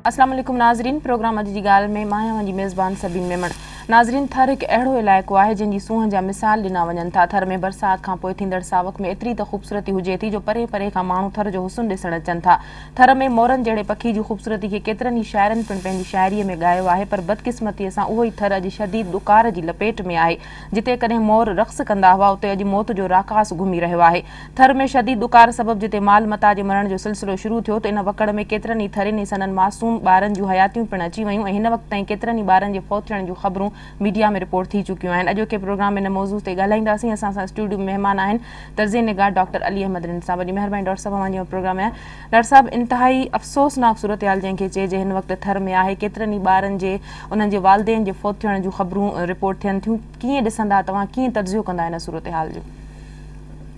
اسلام عليڪم ناظرين پروگرام اڄ جي ڳالهه ۾ مان اوهان جي ميزبان سبين ميمڻ ناظرين ٿر هڪ اهڙو علائقو آهي جنهن جي سونهن جا مثال ڏنا وڃن ٿا ٿر ۾ برسات کان پوء ٿيندڙ ساوڪ ۾ ايتري ته خوبصورتي هجي ٿي جو پري پري کان ماڻهو ٿر جو حسن ڏسڻ اچن ٿا ٿر ۾ مورن جهڙي پکي جي خوبصورتي کي ڪيترن ئي شاعرن پڻ پنهنجي شاعريء ۾ ڳايو آهي پر بدقسمتيء سان اهو ئي ٿر اڄ شديد ڏڪار جي لپيٽ ۾ آهي. جتي ڪڏهن مور رقص ڪندا هئا اتي اڄ موت جو راڪاس گهمي رهيو آهي. ٿر ۾ شديد ڏڪار سبب جتي مال متاع جي مرڻ جو سلسلو شروع ٿيو ته ان وڪڙ ۾ ڪيترن ئي ٿرين ۽ سندن معصوم ٻارن جون حياتيون پڻ اچي ويون ۽ هن وقت تائين ڪيترن ئي ٻارن جي فوت ٿيڻ جون خبرون ميڊيا ۾ رپورٽ ٿي چڪيون آهن. اڄوڪي پروگرام ۾ ان موضوع تي ڳالهائينداسين. اسان سان اسٽوڊيو ۾ مهمان آهن تجزئي نگار ڊاڪٽر علي احمد رند سان وڏي مهرباني ڊاڪٽر صاحب اوهان جي اهو پروگرام ۽ ڊاڪٽر صاحب انتهائي افسوسناڪ صورتحال جنهن کي چئجي هن وقت ٿر ۾ آهي ڪيترن ئي ٻارن جي انهن جي والدين جي فوت ٿيڻ جون خبرون رپورٽ ٿين ٿيون ڪيئن ڏسندا توهان ڪيئن تجزيو ڪندا هن صورتحال جو.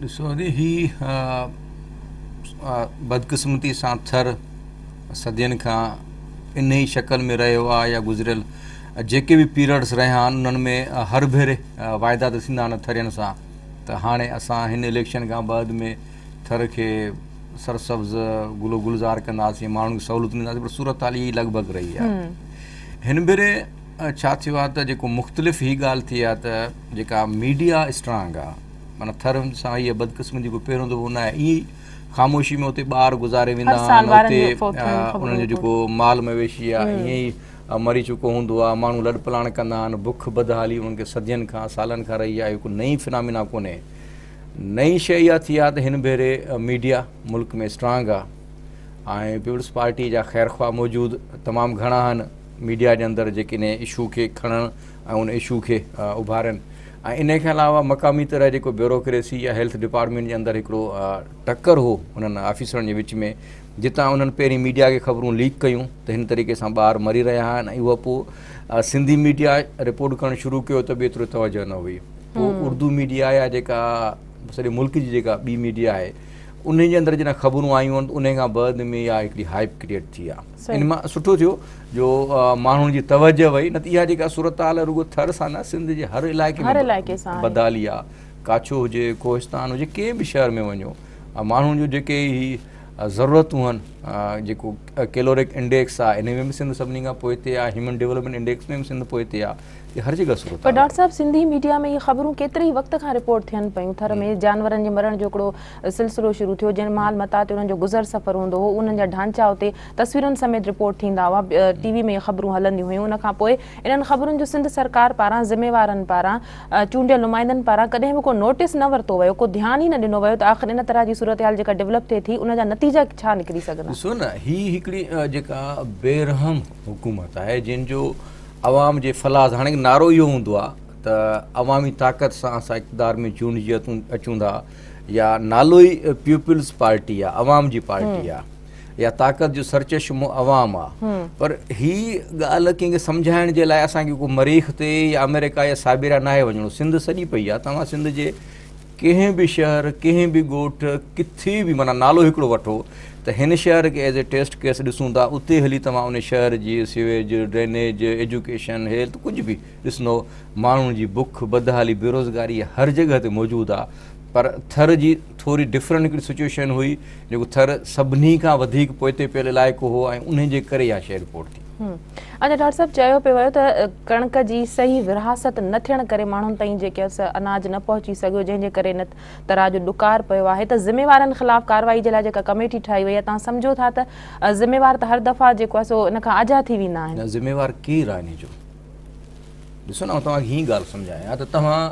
ڏسو جي هي بدقسمتي سان ٿر صدين کان انهي شڪل ۾ رهيو آهي يا گذريل جيڪي به پيريڊس رهيا آهن انهن ۾ هر ڀيري واعدا ته ٿيندا آهن ٿرين سان ته هاڻي اسان هن اليڪشن کان بعد ۾ ٿر کي سرسبز گل و گلزار ڪنداسين، ماڻهن کي سهولتون ڏينداسين پر صورتحال اها ئي لڳ ڀڳ رهي آهي. هن ڀيري ڇا ٿيو آهي ته جيڪو مختلف هي ڳالهه ٿي آهي ته جيڪا ميڊيا اسٽرانگ آهي معنيٰ ٿر سان هيء بدقسمتي ڪو پهريون دفعو نه آهي ائين ئي خاموشي ۾ اتي ٻار گذاري ويندا آهن اتي انهن جو جيڪو مال مويشي آهي ائين ئي ۽ مري چڪو هوندو آهي. ماڻهو لڏپلاڻ ڪندا آهن. بک بدحالي انهن کي صدين کان، سالن کان رهي آهي. اهو ڪو نئين فنامينا ڪونهي. نئين شيء اها ٿي آهي ته هن ڀيري ميڊيا ملڪ ۾ اسٽرانگ آهي ۽ پيپلز پارٽي جا خيرخواهه موجود تمام گهڻا آهن ميڊيا جي اندر جيڪي انهي اشو کي کڻن ۽ ان اشو کي اڀارين ۽ انهي کان علاوه مقامي طرح جيڪو بيوروڪريسي يا هيلٿ ڊپارٽمينٽ جي اندر هڪڙو ٽڪر هو انهن آفيسرن جي وچ ۾ جتان انهن پهرين ميڊيا کي خبرون ليڪ ڪيون ته هن طريقي سان ٻار مري رهيا آهن ۽ اهو پوء سنڌي ميڊيا رپورٽ ڪرڻ شروع ڪيو ته به ايترو توجه نه هئي پوء اردو ميڊيا يا جيڪا سڄي ملڪ جي جيڪا ٻي ميڊيا آهي انهن جي اندر جڏهن خبرون آيون آهن انهن کان بعد ۾ اها هڪڙي هائپ ڪريٽ ٿي آهي ان مان سٺو ٿيو جو ماڻهن جي توجه وئي نه ته اها جيڪا صورتحال رڳو ٿر سان نه سنڌ جي هر علائقي ۾ بدالي آهي ڪاڇو هجي ڪوهستان هجي ڪنهن به شهر ۾ وڃو ماڻهن جو جيڪي هي ضرورتون هن جيڪو ڪيلورڪ انڊيڪس آ ان ۾ به سنڌ سڀني کان پوئتي آ هيومن ڊيولپمينٽ انڊيڪس ۾ به سنڌ پوئتي آ هي هر جگهه صورت پر ڊاڪٽر صاحب سنڌي ميڊيا ۾ هي خبرون ڪيتري ئي وقت کان رپورٽ ٿين پيون ٿر ۾ جانورن جي مرڻ جو هڪڙو سلسلو شروع ٿيو جن مال متاع تي انهن جو گذر سفر هوندو هو انهن جا ڍانچا اتي تصويرن سميت رپورٽ ٿيندا هئا ٽي وي ۾ هي خبرون هلنديون هيون ان کان پوء انهن خبرن جو سنڌ سرڪار پاران ذميوارن پاران چونڊيل نمائندن پاران ڪڏهن به ڪو نوٽيس نه ورتو ويو، ڪو ڌيان ئي نه ڏنو ويو ته آخر ان طرح جي صورتحال جيڪا ڊولپ ٿئي ٿي ان جا نتيجا ڇا نڪري سگهندا. ڏسو نه هي هڪڙي جيڪا بي رحم حڪومت آهي جنهن جو عوام جي فلاس هاڻي نعرو اهو هوندو آهي ته عوامي طاقت سان اسان اقتدار ۾ چونڊجي اچون ٿا يا نالو ئي پيوپلز پارٽي آهي عوام جي پارٽي آهي. يا طاقت جو سرچشمو عوام آ پر هي ڳالهه ڪنهن کي سمجهائڻ جي لاء اسان کي ڪو مريخ تي يا آمريڪا يا سائبيريا ناهي وڃڻو سنڌ سڄي پئي آ توهان سنڌ جي ڪنهن به شهر ڪنهن به ڳوٺ ڪٿي به معنيٰ نالو هڪڙو وٺو ته هن شهر کي ايز اي ٽيسٽ ڪيس ڏسون ٿا اتي هلي توهان ان شهر جي سيويج ڊرينيج ايجوڪيشن هيلٿ ڪجهه به ڏسندو ماڻهن جي بک بدحالي بيروزگاري هر جڳهه تي موجود آ پر ٿر جي ٿوري ڊفرنٽ هڪڙي سچويشن هئي جيڪو ٿر سڀني کان وڌيڪ پوئتي پيل علائقو هو ۽ انهي جي ڪري اها شيء رپورٽ ٿي. اچا ڊاڪٽر صاحب چيو پيو ويو ته ڪڻڪ جي صحيح ورهاست نه ٿيڻ ڪري ماڻهن تائين جيڪي اناج نه پهچي سگهيو جنهن جي ڪري ان تراء جو ڏڪار پيو آهي ته ذميوارن خلاف ڪارروائي جي لاء جيڪا ڪميٽي ٺاهي وئي آهي تان سمجهو ٿا ته ذميوار ته هر دفعا جيڪو آهي سو ان کان آجا ٿي ويندا آهن. نه ذميوار ڪير آهي ان جو؟ ڏسو نه آئون توهان کي هيئن ڳالهه سمجهايان ته توهان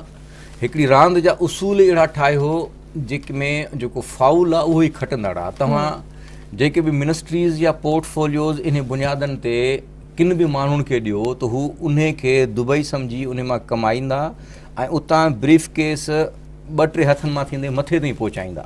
هڪڙي راند جا اصول اهڙا ٺاهيو جيڪ ۾ جيڪو فائول آهي اهو ئي کٽندڙ آهي توهان جيڪي به منسٽريز يا پورٽ فوليوز انهي بنيادن تي ڪن به ماڻهن کي ڏيو ته هو انهي کي دبئي سمجهي انهي مان ڪمائيندا ۽ اتان بريف ڪيس ٻه ٽي هٿن مان ٿيندي مٿي تائين پهچائيندا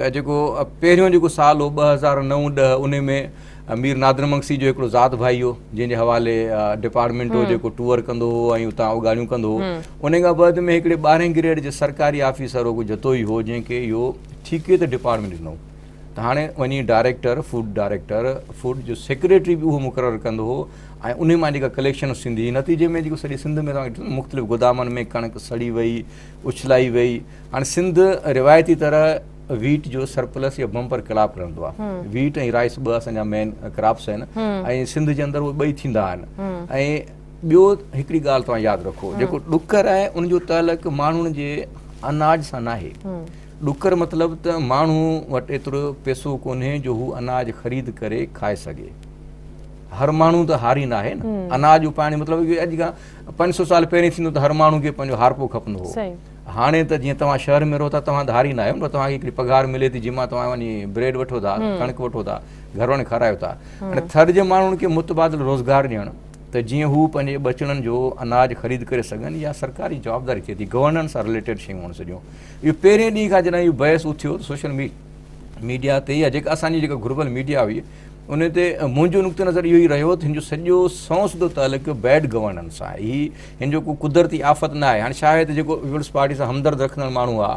ته جيڪو پهريون جيڪو سال هو ٻه هزار نو ڏهه انهي ۾ مير نادر مگسي جو هڪڙو ذات ڀائي هو جنهن جي حوالي ڊپارٽمينٽ هو جيڪو ٽوئر ڪندو هو ۽ اتان اوڳاڙيون ڪندو هو انهي کان بعد ۾ هڪڙي ٻارهين گريڊ جي سرڪاري آفيسر هو ڪو جتوئي هو جنهن کي اهو ٺيڪي تي ڊپارٽمينٽ ڏنو ته هاڻي وڃي ڊائريڪٽر فوڊ ڊائريڪٽر فوڊ جو سيڪريٽري به اهو مقرر ڪندو هو ۽ انهي مان جيڪا ڪليڪشن ٿيندي هئي نتيجي ۾ جيڪو سڄي سنڌ ۾ مختلف گودامن ۾ ڪڻڪ سڙي وئي اڇلائي وئي هاڻ سنڌ روايتي طرح ويٽ جو سرپلس يا بمپر ڪراپ رهندو آهي ويٽ ۽ رائس ٻه اسان جا مين ڪراپس آهن ۽ سنڌ جي اندر اهي ٻئي ٿيندا آهن ۽ ٻيو هڪڙي ڳالهه توهان ياد رکو جيڪو ڏکر آهي ان جو تعلق ماڻهن جي اناج سان ناهي ڏکر مطلب ته ماڻهو وٽ ايترو پيسو ڪونهي جو هو اناج خريد ڪري کائي سگهي هر ماڻهو ته هاري ناهي اناج اپائڻ مطلب اڄ کان پنج سو سال پهرين ٿيندو ته هر ماڻهو کي پنهنجو هارپو کپندو هو هاڻي ته جيئن توهان شهر ۾ رهو ٿا توهان ڌاري نه آهيو پر توهان کي هڪڙي پگهار ملي ٿي جنهن مان توهان وڃي بريڊ وٺو ٿا ڪڻڪ وٺو ٿا گهر وارن کي کارايو ٿا هاڻي ٿر جي ماڻهن کي متبادل روزگار ڏيڻ ته جيئن هو پنهنجي ٻچڙن جو اناج خريد ڪري سگهن يا سرڪاري جوابداري ٿئي ٿي گورننس سان رليٽيڊ شيون هئڻ سڄو اهو پهرين ڏينهن کان جڏهن اهو بحث اٿيو سوشل ميڊيا ميڊيا تي يا جيڪا اسانجي جيڪا گهربل ميڊيا هئي ان تي منهنجو نقطه نظر اهو ئي رهيو ته هن جو سڄو سنئون سڌو تعلق بيڊ گورننس سان آهي هن جو ڪو قدرتي آفت نه آهي هاڻي شايد جيڪو پيپلز پارٽي سان همدرد رکندڙ ماڻهو آ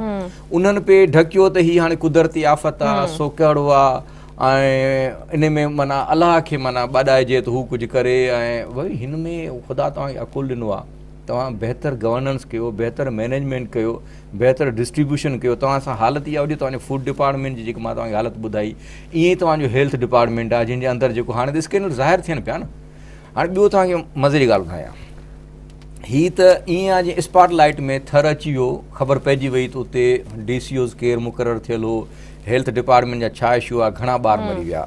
انهن پي ڍڪيو ته هي هاڻي قدرتي آفت آ سو ڪهڙو آ ۽ ان ۾ معنيٰ الله کي معنيٰ ٻاڏائجي ته هو ڪجهه ڪري ۽ وئي هن ۾ خدا توهان کي عقل ڏنو آ توهان بهتر گورننس ڪيو بهتر مينيجمينٽ ڪيو بهتر ڊسٽريبيوشن ڪيو توهان سان حالت اها هجي توهان جو فوڊ ڊپارٽمينٽ جي جيڪي مان توهان کي حالت ٻڌائي ائين توهان جو هيلٿ ڊپارٽمينٽ آ جنهن جي اندر جيڪو هاڻي ته اسڪينل ظاهر ٿين پيا نه هاڻي ٻيو توهان کي مزي جي ڳالهه ٻڌايان. هي ته ائين آهي جيئن اسپاٽ لائيٽ ۾ ٿر اچي ويو، خبر پئجي وئي ته اتي ڊي سي اوز ڪير مقرر ٿيل هو، هيلٿ ڊپارٽمينٽ جا ڇا اشو آهي، گهڻا ٻار مري ويا.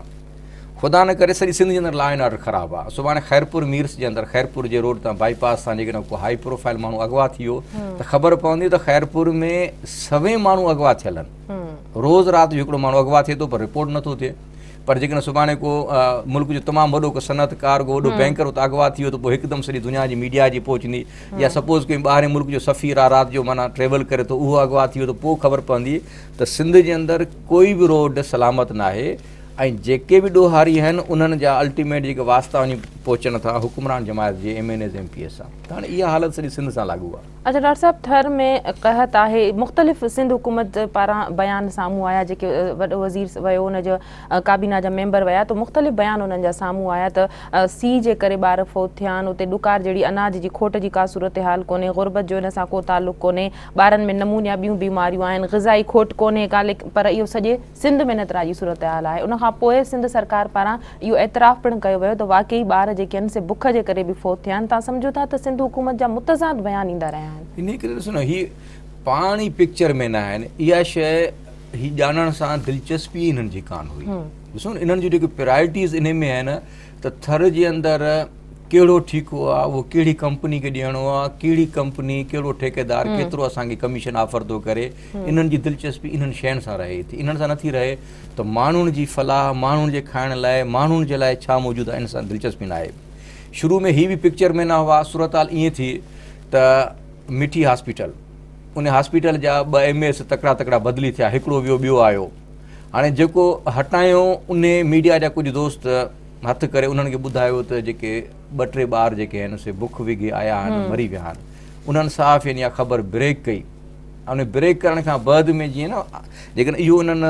خدا نه ڪري سڄي سنڌ جي اندر لا اينڊ آرڊر خراب آهي. سڀاڻي خيرپور ميرس جي اندر خيرپور جي روڊ تان بائي پاس تان جيڪڏهن ڪو هائي پروفائل ماڻهو اغوا ٿي ويو ته خبر پوندي ته خيرپور ۾ سوين ماڻهو اغوا ٿيل آهن. روز رات جو هڪڙو ماڻهو اغوا ٿئي ٿو پر رپورٽ نٿو ٿئي. پر جيڪڏهن سڀاڻي ڪو ملڪ جو تمام وڏو ڪو صنعت ڪار ڪو وڏو بينڪر اتي اغوا ٿي ويو ته پوء هڪدم سڄي دنيا جي ميڊيا اچي پهچندي يا سپوز ڪنهن ٻاهرين ملڪ جو سفير آ رات جو معنيٰ ٽريول ڪري ٿو اهو اغوا ٿي ويو ته پوء خبر پوندي ته سنڌ جي اندر ڪوئي به روڊ سلامت ناهي ۽ جيڪي به ڏوهاري آهن انهن جا الٽيميٽ جيڪي واسطا وڃي پهچن ٿا حڪمران جماعت جي M N As M P As سان ته هاڻي اها حالت سڄي سنڌ سان لاڳو آ. اچا ڊاڪٽر صاحب ٿر ۾ قحط آهي مختلف سنڌ حڪومت پاران بيان سامهون آيا جيڪي وڏو وزير ويو ان جو ڪابينا جا ميمبر ويا تو مختلف بيان انهن جا سامهون آيا ته سي جي ڪري ٻار فوت ٿيا آهن اتي ڏڪار جهڙي اناج جي کوٽ جي ڪا صورتحال ڪونهي غربت جو ان سان ڪو تعلق ڪونهي ٻارن ۾ نمونيا ٻيون بيماريون آهن غذائي کوٽ ڪونهي ڪا پر اهو سڄي سنڌ ۾ نترا جي صورتحال آهي ان کان پوء سنڌ سرڪار پاران اهو اعتراف پڻ ڪيو ويو ته واقعي ٻار جيڪي آهن سي بک جي ڪري به فوت ٿيا آهن تان سمجهو ٿا ته سنڌ حڪومت جا متضاد بيان ايندا رهيا آهن. انهي ڪري ڏسو نه هي پاڻ ئي پڪچر ۾ نه آهن اها شيء هي ڄاڻڻ سان دلچسپي ئي انهن جي ڪانه هئي ڏسو نه انهن جون جيڪي پرايرٽيز انهي ۾ آهن ته ٿر جي اندر ڪهڙو ٺيڪو آهي اهو ڪهڙي ڪمپني کي ڏيڻو آهي ڪهڙي ڪمپني ڪهڙو ٺيڪيدار ڪيترو اسان کي ڪميشن آفر ٿو ڪري انهن جي دلچسپي انهن شين سان رهي ٿي انهن سان نٿي رهي ته ماڻهن جي فلاح ماڻهن جي کائڻ لاء ماڻهن جي لاء ڇا موجود آهي ان سان دلچسپي نه آهي شروع ۾ هي به پڪچر ۾ نه هئا صورتحال ائين ٿي ته مٺي هاسپيٽل ان هاسپيٽل جا ٻه ايم ايس تڪڙا تڪڙا بدلي ٿيا هڪڙو ويو ٻيو آيو هاڻي جيڪو هٽايو ان ميڊيا جا ڪجهه دوست هٿ ڪري انهن کي ٻڌايو ته جيڪي ٻه ٽي ٻار جيڪي آهن سي بک وگهي آيا آهن مري ويا آهن انهن صحافين يا خبر بريڪ ڪئي ان بريڪ ڪرڻ کان بعد ۾ جيئن نه جيڪڏهن اهو انهن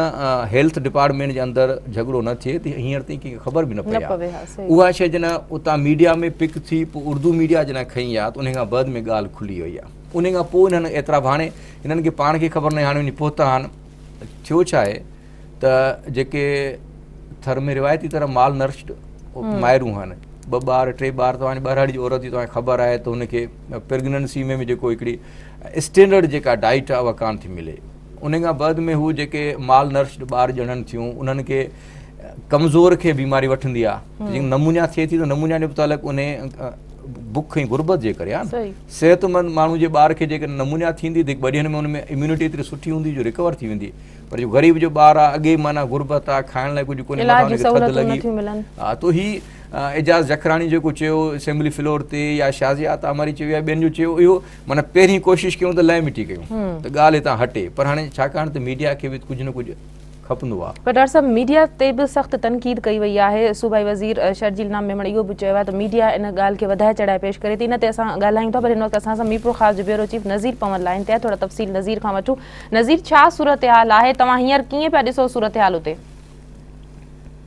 هيلٿ ڊپارٽمينٽ جي اندر جهڳڙو نه ٿئي ته هينئر تائين ڪنهن کي خبر به نه پئي آهي اها شيء جڏهن اتان ميڊيا ۾ پڪ ٿي پوء اردو ميڊيا جڏهن کئي آهي ته ان کان بعد ۾ ڳالهه کلي وئي آهي ان کان پوء هنن اعتراف هاڻي هنن کي پاڻ کي خبر نه هاڻي وڃي پهتا آهن ٿيو ڇا آهي ته جيڪي ٿر ۾ روايتي طرح مال نرشد مائرون آهن ٻه ٻار ٽي ٻار توهان ٻهراڙي جي عورت جي توهان خبر آهي ته هن کي پريگننسي ۾ به جيڪو هڪڙي اسٽينڊرڊ جيڪا ڊائيٽ آهي اها ڪانه ٿي ملي ان کان بعد ۾ هو جيڪي مال نرسڊ ٻار ڄڻن ٿيون انهن کي ڪمزور کي بيماري وٺندي آهي جيڪي نمونيا ٿئي ٿي ته نمونيا جو متعلق ان بک ۽ غربت جي ڪري آهي صحت مند ماڻهو جي ٻار کي جيڪڏهن نمونيا ٿيندي ته ٻه ڏينهن ۾ ان ۾ اميونٽي ايتري سٺي هوندي جو رڪور ٿي ويندي پر جو غريب جو ٻار آهي اڳي معنيٰ غربت آهي کائڻ لاء ڪجهه ڪونهي اعجاز جکراڻي جيڪو چيو اسيمبلي فلور تي يا شازيا عطا مري چيو يا ٻين جو چيو اهو معنيٰ پهرين ڪوشش ڪيون ته لئي مٽي ڪيون ته ڳالهه هتان هٽي پر هاڻي ڇاڪاڻ ته ميڊيا کي به ڪجهه نه ڪجهه کپندو آهي. پر ڊار صاحب ميڊيا تي به سخت تنقيد ڪئي وئي آهي صوبائي وزير شرجيل نام ميمڻ اهو به چيو آهي ته ميڊيا ان ڳالهه کي وڌائي چڙهائي پيش ڪري ٿي ان تي اسان ڳالهايون ٿا پر هن وقت اسان سان ميرپور خاص جو بيورو چيف نظير پون لائين تي آهي ٿورا تفصيل نظير کان وٺون نظير ڇا صورتحال آهي توهان هينئر ڪيئن پيا ڏسو صورتحال اتي.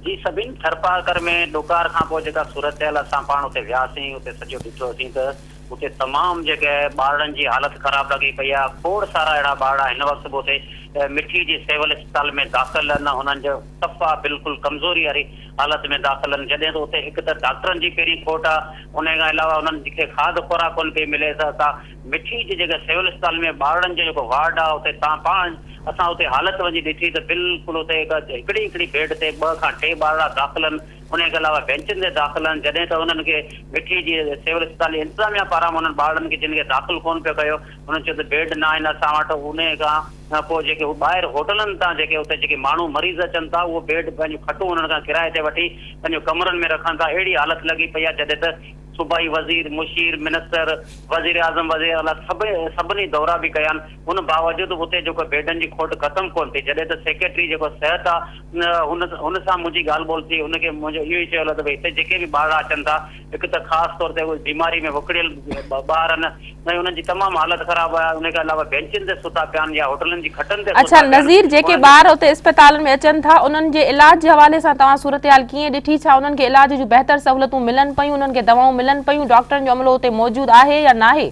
جي سڀني ٿرپارڪر ۾ ڏڪار کان پوء جيڪا صورتحال اسان پاڻ اتي وياسين اتي سڄو ڏٺوسين ته اتي تمام جيڪي ٻارڙن جي حالت خراب لڳي پئي آهي کوڙ سارا اهڙا ٻارڙا هن وقت به اتي مٺي جي سول اسپتال ۾ داخل ان انهن جو صفا بلڪل ڪمزوري واري حالت ۾ داخل ان جڏهن ته اتي هڪ ته ڊاڪٽرن جي پهرين کوٽ آهي انهي کان علاوه انهن کي کاڌ خوراڪ ڪونه پئي ملي ته ڪا مٺي جي جيڪا سول اسپتال ۾ ٻارڙن جو جيڪو وارڊ آ اتي تان پاڻ اسان اتي حالت وڃي ڏٺي ته بلڪل اتي هڪ هڪڙي هڪڙي بيڊ تي ٻه کان ٽي ٻارڙا داخل ان انهي کي علاوه بينچن تي داخل ان جڏهن ته انهن کي مٺي جي سول اسپتال جي انتظاميا پاران انهن ٻارڙن کي جن کي داخل ڪون پيو ڪيو انهن چيو ته بيڊ نه آهن اسان وٽ انهي کان پوء جيڪي هو ٻاهر هوٽلن تان جيڪي اتي جيڪي ماڻهو مريض اچن ٿا اهو بيڊ پنهنجون کٽون انهن کان ڪرايي تي وٺي پنهنجو ڪمرن ۾ رکن ٿا اهڙي حالت لڳي پئي آ جڏهن ته صوبائي وزير، مشير، منسٽر، وزيراعظم، وزيراعليٰ سڀني دورا به ڪيا آهن، ان باوجود به اتي جيڪو بيڊن جي کوٽ ختم ڪونه ٿي، جڏهن ته سيڪريٽري جيڪو صحت آ هن سان منهنجي ڳالهه ٻولهه ٿي، هن کي منهنجو اهو ئي چيو ويو ته ڀئي هتي جيڪي به ٻارڙا اچن ٿا، هڪ ته خاص طور تي اهي بيماري ۾ وڪڙيل ٻار آهن، سائين انهن جي تمام حالت خراب آهي انهي کان علاوه بينچن تي ستا پيا آهن يا هوٽلن جي کٽن تي ستا پيا آهن. اڇا نظير جيڪي ٻار اتي اسپتالن ۾ اچن ٿا انهن جي علاج جي حوالي سان توهان صورتحال ڪيئن ڏٺي ڇا انهن کي علاج جون بهتر سهولتون ملن پيون انهن کي دوائون ملن پيون ڊاڪٽرن جو عملو اتي موجود آهي يا ناهي.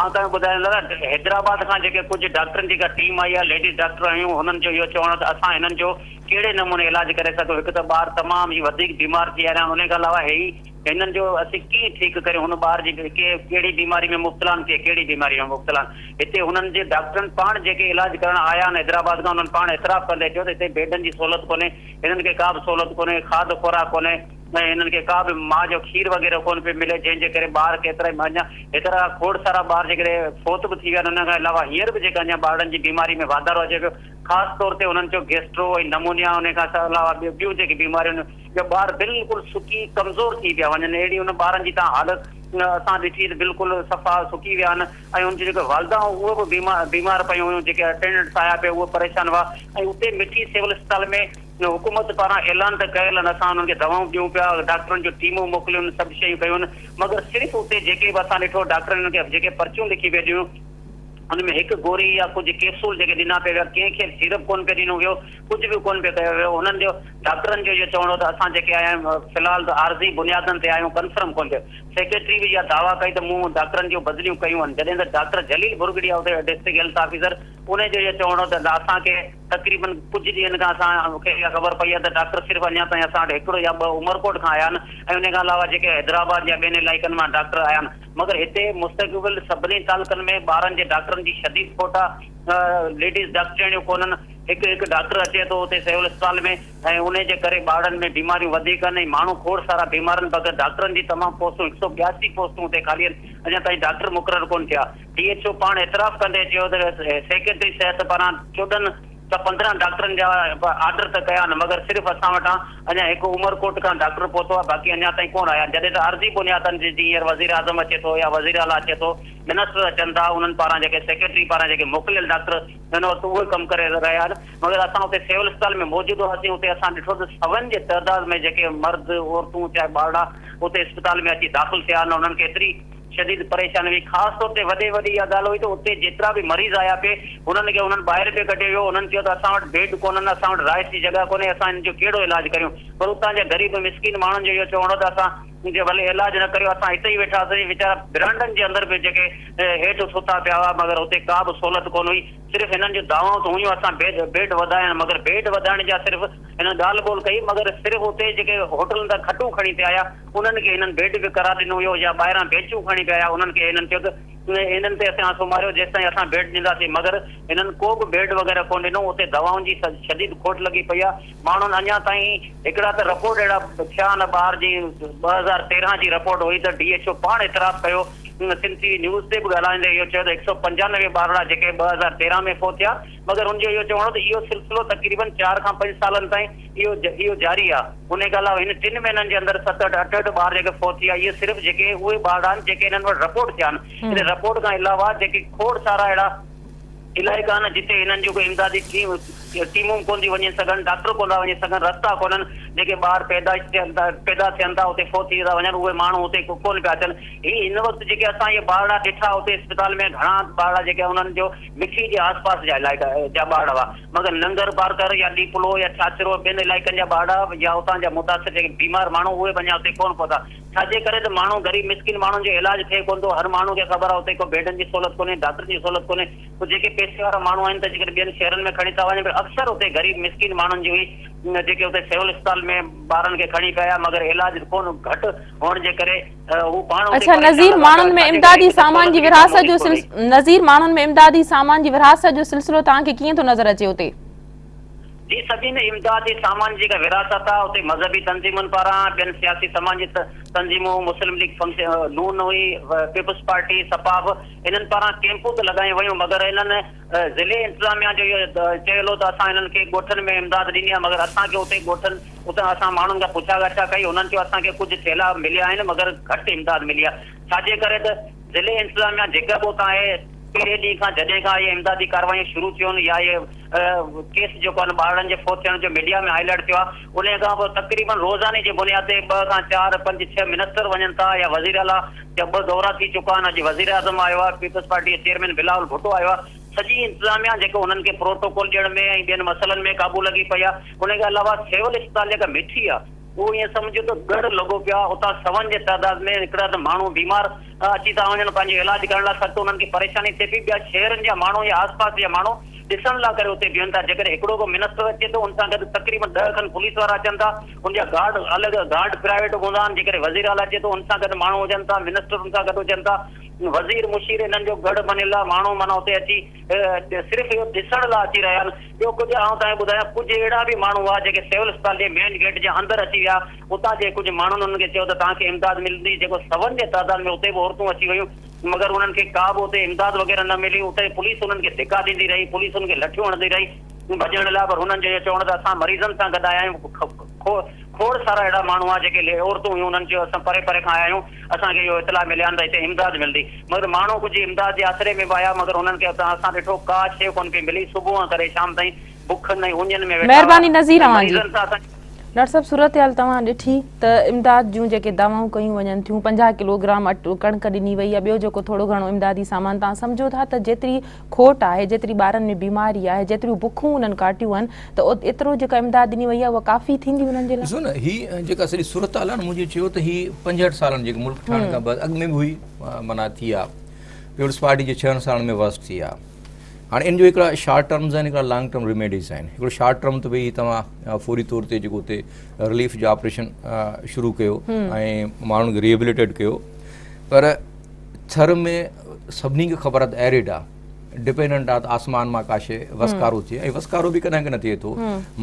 آئون توهان کي ٻڌايان دادا حيدرآباد کان جيڪي ڪجهه ڊاڪٽرن جي جيڪا ٽيم آئي آهي ليڊيز ڊاڪٽر آهيون هنن جو اهو چوڻ آهي ته اسان هنن جو ڪهڙي نموني علاج ڪري سگهون هڪ ته ٻار تمام ئي وڌيڪ بيمار ٿي ويا آهن انهي کان علاوه هي هنن جو اسين ڪيئن ٺيڪ ڪريون هن ٻار جي ڪي ڪهڙي بيماري ۾ مبتلا آهن ڪي ڪهڙي بيماري ۾ مبتلا آهن هتي هنن جي ڊاڪٽرن پاڻ جيڪي علاج ڪرڻ آيا آهن حيدرآباد کان انهن پاڻ اعتراف ڪندي چيو ته هتي بيڊن جي سهولت ڪونهي هنن کي ڪا به سهولت ڪونهي کاڌ خوراڪ ڪونهي ۽ هنن کي ڪا به ماء جو کير وغيره ڪونه پيو ملي جنهن جي ڪري ٻار ڪيترائي اڃا هيترا کوڙ سارا ٻار جيڪڏهن فوت به ٿي ويا آهن ان کان علاوه هينئر به جيڪا اڃا ٻارڙن جي بيماري ۾ واڌارو اچي پيو خاص طور تي هنن چيو گيسٽرو ۽ نمونيا ان کان علاوه ٻيون جيڪي بيماريون جو ٻار بلڪل سڪي ڪمزور ٿي پيا وڃن اهڙي ان ٻارن جي تان حالت اسان ڏٺي ته بلڪل صفا سڪي ويا آهن ۽ ان جون جيڪي والده هيون اهي به بيمار بيمار پيون هيون جيڪي اٽينڊنٽس آيا پي اهي پريشان هئا ۽ اتي مٺي سول اسپتال ۾ حڪومت پاران اعلان ته ڪيل آهن اسان انهن کي دوائون ڏيون پيا ڊاڪٽرن جون ٽيمون موڪليون سڀ شيون ڪيون مگر صرف اتي جيڪي به اسان ڏٺو ڊاڪٽرن انهن کي جيڪي پرچيون لکي پي ڏيون ان ۾ هڪ گوري يا ڪجهه ڪيپسول جيڪي ڏنا پي ويا ڪنهن کي به سيرپ ڪونه پي ڏنو ويو ڪجهه به ڪونه پيو ڪيو ويو هنن جو ڊاڪٽرن جو اهو چوڻ هو ته اسان جيڪي آيا آهيون في الحال ته عارضي بنيادن تي آهيون ڪنفرم ڪونه ٿيو سيڪريٽري به اها دعويٰ ڪئي ته مون ڊاڪٽرن جون بدليون ڪيون آهن جڏهن ته ڊاڪٽر جليل ڀرڳڙي آهو ته ڊسٽرڪٽ هيلٿ آفيسر انهي جو اهو چوڻ هو ته اسان کي تقريبن ڪجهه ڏينهن کان اسان کي اها خبر پئي آهي ته ڊاڪٽر صرف اڃا تائين اسان وٽ هڪڙو يا ٻه عمرڪوٽ کان آيا آهن ۽ انهي کان علاوه جيڪي حيدرآباد يا ٻين علائقن مان ڊاڪٽر آيا آهن مگر هتي مستقبل سڀني تعلقن ۾ ٻارن جي ڊاڪٽرن جي شديد کوٽ آهي ليڊيز ڊاڪٽرياڻيون ڪونهن هڪ هڪ ڊاڪٽر اچي ٿو اتي سول اسپتال ۾ ۽ انهي جي ڪري ٻارڙن ۾ بيماريون وڌيڪ آهن ۽ ماڻهو کوڙ سارا بيمار آهن بغير ڊاڪٽرن جي تمام پوسٽون هڪ سؤ ٻياسي پوسٽون اتي خالي آهن اڃا تائين ڊاڪٽر مقرر ڪونه ٿيا ڊي ايڇ او پاڻ اعتراف ڪندي چيو ته سيڪريٽري صحت پاران چوڏهن ته پندرهن ڊاڪٽرن جا آرڊر ته ڪيا آهن مگر صرف اسان وٽان اڃا هڪ عمرڪوٽ کان ڊاڪٽر پهتو آهي باقي اڃا تائين ڪونه آيا آهن جڏهن ته عرضي بنيادن تي جيئن هينئر وزيراعظم اچي ٿو يا وزيراعليٰ اچي ٿو منسٽر اچن ٿا انهن پاران جيڪي سيڪريٽري پاران جيڪي موڪليل ڊاڪٽر هن وقت اهو ئي ڪم ڪري رهيا آهن مگر اسان اتي سول اسپتال ۾ موجود هئاسين اتي اسان ڏٺو ته سون جي تعداد ۾ جيڪي مرد عورتون چاهي ٻارڙا اتي اسپتال ۾ اچي داخل ٿيا آهن انهن کي ايتري شديد پريشاني هئي خاص طور تي وڏي وڏي اها ڳالهه هئي ته اتي جيترا به مريض آيا پي انهن کي انهن ٻاهر پي ڪڍيو ويو انهن چيو ته اسان وٽ بيڊ ڪونهن اسان وٽ رهائش جي جڳهه ڪونهي اسان هن جو ڪهڙو علاج ڪريون پر اتان جا غريب مسڪين ماڻهن جو اهو چوڻ هو ته اسان ان کي ڀلي علاج نه ڪريو اسان هتي ئي ويٺا سين ويچارا برانڊن جي اندر به جيڪي هيٺ ستا پيا هئا مگر اتي ڪا به سهولت ڪونه هئي صرف هنن جون دعوائون ته هيون اسان بيڊ وڌايا مگر بيڊ وڌائڻ جا صرف هنن ڳالهه ٻولهه ڪئي مگر صرف اتي جيڪي هوٽلن تان کٽون کڻي پيا آيا انهن کي هنن بيڊ به ڪرا ڏنو هيو يا ٻاهران بينچون کڻي پيا آيا انهن کي هنن چيو ته انهن تي اسان سمهاريو جيستائين اسان بيڊ ڏيندا سين مگر هنن ڪو به بيڊ وغيره ڪونه ڏنو اتي دوائن جي شديد کوٽ لڳي پئي آ ماڻهن اڃا تائين هڪڙا ته رپورٽ اهڙا ٿيا آهن ٻار جي ٻه هزار تيرنهن جي رپورٽ هئي ته ڊي ايڇ او پاڻ اعتراف ڪيو سنڌ ٽي وي نيوز تي به ڳالهائيندي اهو چيو ته هڪ سؤ پنجانوي ٻارڙا جيڪي ٻه هزار تيرنهن ۾ فوت ٿيا مگر هن جو اهو چوڻ هو ته اهو سلسلو تقريبن چار کان پنج سالن تائين اهو اهو جاري آهي انهي کان علاوه هن ٽن مهينن جي اندر ست اٺ اٺهٺ ٻار جيڪي فوت ٿيا اهي صرف جيڪي اهي ٻارڙا آهن جيڪي هنن وٽ رپورٽ ٿيا آهن ان رپورٽ کان علاوه جيڪي کوڙ سارا اهڙا علائقا آهن جتي هنن جون ڪي امدادي ٽيمون ڪونه ٿيون وڃي سگهن، ڊاڪٽر ڪونه ٿا وڃي سگهن، رستا ڪونهن، جيڪي ٻار پيدائش ٿين ٿا پيدا ٿين ٿا اتي فوت ٿي ٿا وڃن اهي ماڻهو اتي ڪونه پيا اچن. هي هن وقت جيڪي اسان اهي ٻارڙا ڏٺا اتي اسپتال ۾ گهڻا ٻارڙا جيڪي انهن جو مٺي جي آس پاس جا علائقا جا ٻارڙا هئا مگر ننگر پارڪر يا ڏيپلو يا ڇاڇرو ٻين علائقن جا ٻارڙا يا اتان جا متاثر جيڪي بيمار ماڻهو اهي اڃا اتي ڪونه پهتا. ڇاجي ڪري ته ماڻهو غريب مسڪين ماڻهن جو علاج ٿئي ڪونه ٿو هر ماڻهو کي خبر آ اتي ڪو بيڊن جي سهولت ڪونهي ڊاڪٽرن جي سهولت ڪونهي پوء جيڪي پئسي وارا ماڻهو آهن ته جيڪڏهن ٻين شهرن ۾ کڻي ٿا وڃن پر اڪثر اتي غريب مسڪين ماڻهن جون ئي جيڪي اتي سول اسپتال ۾ ٻارن کي کڻي پيا آيا مگر علاج ڪونه گهٽ هئڻ جي ڪري هو پاڻ اتي اڇا نظير ماڻهن ۾ امدادي سامان جي ورهاست جو نظير ماڻهن ۾ امدادي سامان جي ورهاست جو سلسلو توهان کي ڪيئن ٿو نظر اچي اتي جي صدي ۾ امدادي سامان جي جيڪا ورهاست آهي اتي مذهبي تنظيمن پاران، ٻين سياسي سماجي تنظيمون، مسلم ليگ ف، نون هئي، پيپلز پارٽي، سپا به انهن پاران ڪيمپون ته لڳايون ويون مگر انهن ضلعي انتظاميا جو اهو چيل هو ته اسان انهن کي ڳوٺن ۾ امداد ڏني آهي مگر اسان کي اتي ڳوٺن اتان اسان ماڻهن کان پڇا ڳاڇا ڪئي انهن چيو اسان کي ڪجهه ٿيلها مليا آهن مگر گهٽ امداد ملي آهي ڇاجي ڪري ته ضلعي انتظاميا جيڪا به اتان اهي پهرين ڏينهن کان جڏهن کان اهي امدادي ڪارروايون شروع ٿيون يا اهي ڪيس جيڪو آهن ٻارڙن جي فوت ٿيڻ جو ميڊيا ۾ هاء لائيٽ ٿيو آهي انهي کان پوء تقريبن روزاني جي بنياد تي ٻه کان چار، پنج، ڇهه منسٽر وڃن ٿا يا وزير اعليٰ جا ٻه دورا ٿي چڪا آهن، اڄ وزير اعظم آيو آهي، پيپلز پارٽي جي چيئرمين بلاول ڀٽو آيو آهي، سڄي انتظاميا جيڪو انهن کي پروٽوڪول ڏيڻ ۾ ۽ ٻين مسئلن ۾ قابو لڳي پئي آهي انهي کان علاوه سول اسپتال جيڪا مٺي آهي اهو ائين سمجهو ته ڳڙهه لڳو پيو آهي اتان سون جي تعداد ۾ هڪڙا ته ماڻهو بيمار ته اچي ٿا وڃن پنهنجو علاج ڪرڻ لاء سخت انهن کي پريشاني ٿئي پئي ٻيا شهرن جا ماڻهو يا آس پاس جا ماڻهو ڏسڻ لاء ڪري اتي بيهن ٿا جيڪڏهن هڪڙو به منسٽر اچي ٿو ان سان گڏ تقريبن ڏهه کن پوليس وارا اچن ٿا ان جا گارڊ الڳ گارڊ پرائيويٽ هوندا آهن جيڪڏهن وزير اعليٰ اچي ٿو ان سان گڏ ماڻهو هجن ٿا منسٽر ان سان گڏ هجن ٿا وزير مشير انهن جو گڙ بنيل لاء ماڻهو معنيٰ اتي اچي صرف اهو ڏسڻ لاء اچي رهيا آهن ٻيو ڪجهه آئون توهان کي ٻڌايان ڪجهه اهڙا به ماڻهو هئا جيڪي سول اسپتال جي مين گيٽ جي اندر اچي ويا اتان جي ڪجهه ماڻهن انهن کي چيو ته توهان کي امداد ملندي، جيڪو سون جي تعداد ۾ اتي به عورتون اچي ويون، مگر انهن کي ڪا به اتي امداد وغيره نه ملي، اتي پوليس انهن کي ڌڪا ڏيندي رهي، پوليس انهن کي لٺيون هڻندي رهي ڀڄڻ لاء، پر هنن جو اهو چوڻ ته اسان مريضن سان گڏ آيا آهيون، کوڙ سارا اهڙا ماڻهو هئا جيڪي عورتون هيون، انهن چيو اسان پري پري کان آيا آهيون، اسان کي اهو اطلاع مليان ته هتي امداد ملندي، مگر ماڻهو ڪجهه امداد جي آسري ۾ به آيا، مگر انهن کي اتان اسان ڏٺو ڪا شيء ڪونه پئي ملي، صبح کان ڪري شام تائين. مهرباني نظير اوهان جي ڊاڪٽر صاحب صورتحال توهان ڏٺي ته امداد جون جيڪي دعوائون ڪيون وڃن ٿيون پنجاهه ڪلو گرام اٽو ڪڻڪ ڏني وئي يا ٻيو جيڪو ٿورو گهڻو امدادي سامان توهان سمجهو ٿا ته جيتري کوٽ آهي جيتري ٻارن ۾ بيماري آهي جيتريون بکون انهن ڪاٽيون آهن ته ايترو جيڪا امداد ڏني وئي آهي اها ڪافي ٿيندي انهن جي لاء ڏسو نه هي جيڪا سڄي صورتحال آهي نه مون جي چيو ته هي پنجهٺ سالن جيڪي ملڪ ٺهڻ کان بعد اڳ ۾ به هئي معنيٰ ٿي آهي پيپلز پارٽي جي ڇهن سالن ۾ ورسٽ ٿي آهي هاڻي ان جو هڪڙا شارٽ ٽرمز آهن هڪڙا لانگ ٽرم ريميڊيز آهن هڪڙو شارٽ ٽرم ته ڀئي توهان فوري طور تي جيڪو اتي رليف جو آپريشن شروع ڪيو ۽ ماڻهن کي ريهبليٽيڊ ڪيو پر ٿر ۾ سڀني کي خبر آهي ايريڊ آهي ڊپينڊنٽ آهي آسمان مان ڪا شيء وسڪارو ٿئي ۽ وسڪارو به ڪڏهن ڪڏهن ٿئي ٿو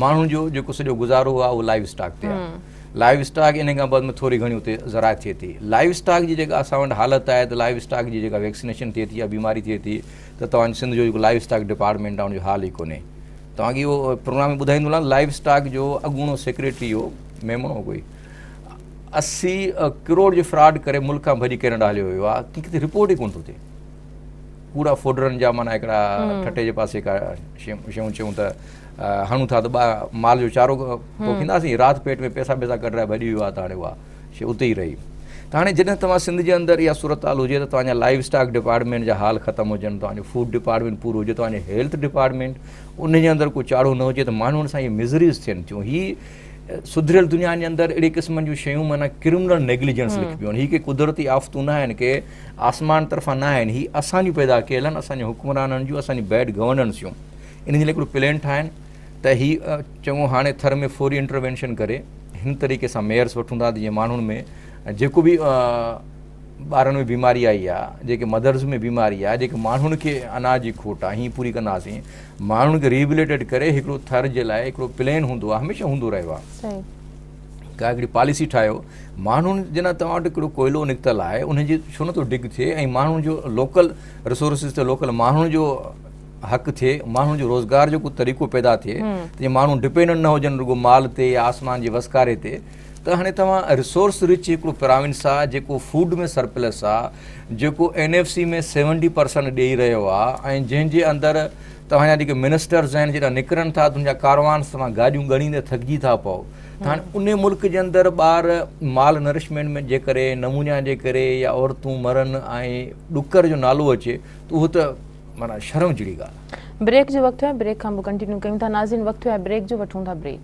ماڻهن جو جيڪو سڄو گذارو آهي اهو لائيو اسٽاڪ تي آهي لائيو اسٽاڪ انهي کان بعد ۾ ٿوري گهڻي اتي زراعت ٿئي ٿي لائيو اسٽاڪ جي جيڪا اسان وٽ حالت آهي ته لائيو اسٽاڪ جي جيڪا ويڪسينيشن ٿئي ٿي يا بيماري ٿئي ٿي ته توهان سنڌ جو جيڪو لائيو اسٽاڪ ڊپارٽمينٽ آهي ان جو حال ئي ڪونهي توهان کي اهو پروگرام ۾ ٻڌائيندو هلان لائيو اسٽاڪ جو اڳوڻو سيڪريٽري هو ميمڻ هو ڪوئي اسي ڪروڙ جو فراڊ ڪري ملڪ کان ڀڄي ڪينيڊا هليو ويو آ ڪي ڪٿي رپورٽ ئي ڪون ٿو ٿئي ڪوڙا فوڊرن جا مانا هڪڙا ٺٽي جي پاسي ڪا شيون چيون ته هڻون ٿا ته مال جو چارو پوکينداسين، رات پيٽ ۾ پيسا بيسا ڪڍرائي ڀڄي ويو آهي ته هاڻي اها شيء اتي ئي رهي. ته هاڻي جڏهن توهان سنڌ جي اندر اها صورتحال هجي ته توهان جا لائيو اسٽاڪ ڊپارٽمينٽ جا حال ختم هجن، توهان جو فوڊ ڊپارٽمينٽ پورو هجي، توهان جي هيلٿ ڊپارٽمينٽ ان جي اندر ڪو چاڙهو نه هجي ته ماڻهو ان سان اهي مزريز ٿين ٿيون. هي سڌريل دنيا جي اندر اهڙي قسم جون شيون معنيٰ ڪرمنل نيگليجنس لکبيون آهن. هي ڪي قدرتي آفتون نه آهن، ڪي آسمان طرفان نه آهن، هي اسان جون پيدا ڪيل آهن، اسان جي حڪمرانن جون، اسان جي بيڊ گورننس جون. انهن جي لاء هڪڙو پلين ٺاهن ته هي چڱو هاڻي ٿر ۾ فوري انٽروينشن ڪري هن طريقي سان ميئرس وٺون ٿا جيئن ماڻهن ۾ جيڪو به ٻارن ۾ بيماري آئي آ جيڪي مدرس ۾ بيماري آ جيڪي ماڻهن کي اناج جي کوٽ آ هي پوري ڪنداسين ماڻهن کي ريبليٽيڊ ڪري هڪڙو ٿر جي لاء هڪڙو پلين هوندو آ هميشه هوندو رهيو آ صحيح ڪا هڪڙي پاليسي ٺاهيو ماڻهن جنا توهان وٽ هڪڙو ڪوئلو نڪتل آهي ان جي ڇو نٿو ڊگ ٿئي ۽ ماڻهن جو لوڪل رسورسز تي لوڪل ماڻهن جو حق ٿئي ماڻهن جو روزگار جو ڪو طريقو پيدا ٿئي ته جي ماڻهو ڊپينڊنٽ نه هجن رڳو مال تي يا آسمان جي وسڪاري تي ته هاڻي توهان ريسورس رچ هڪڙو پراونس آ جيڪو فوڊ ۾ سرپلس آ جيڪو N F C ۾ seventy percent ڏيئي رهيو آ ۽ جنهن جي اندر توهان جا جيڪي منسٽرز آهن جيڪا نڪرن ٿا تن جا ڪاروانس توهان گاڏيون ڳڻيندي ٿڪجي ٿا پئو ته هاڻي ان ملڪ جي اندر ٻار مال نرشمينٽ ۾ جي ڪري نمونيا جي ڪري يا عورتون مرن ۽ ڏڪر جو نالو اچي ته اهو ته معنيٰ شرم جھڙي ڳالهه. بريڪ جو وقت ٿيو آهي بريڪ کان پوء ڪنٽينيو ڪيون ٿا ناظرين وقت ٿيو آهي بريڪ جو وٺون ٿا بريڪ.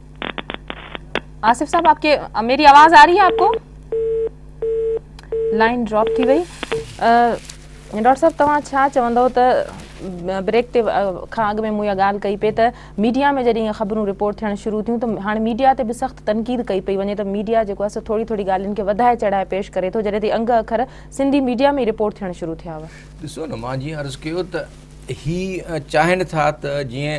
آصف صاحب آپ کي ميري آواز آ رہي آ آپ کو لائن ڊراپ ٿي وئي ڊاڪٽر صاحب توهان ڇا چوندو ته بريڪ تي کان اڳ ۾ مون اها ڳالهه ڪئي پئي ته ميڊيا ۾ جڏهن خبرون رپورٽ ٿيڻ شروع ٿيون ته هاڻي ميڊيا تي به سخت تنقيد ڪئي پئي وڃي ته ميڊيا جيڪو آهي سو ٿوري ٿوري ڳالهين کي وڌائي چڙهائي پيش ڪري ٿو جڏهن تي انگ اکر سنڌي ميڊيا ۾ رپورٽ ٿيڻ شروع ٿيا هئا ڏسو نه مان جيئن عرض ڪيو ته هي چاهين ٿا ته جيئن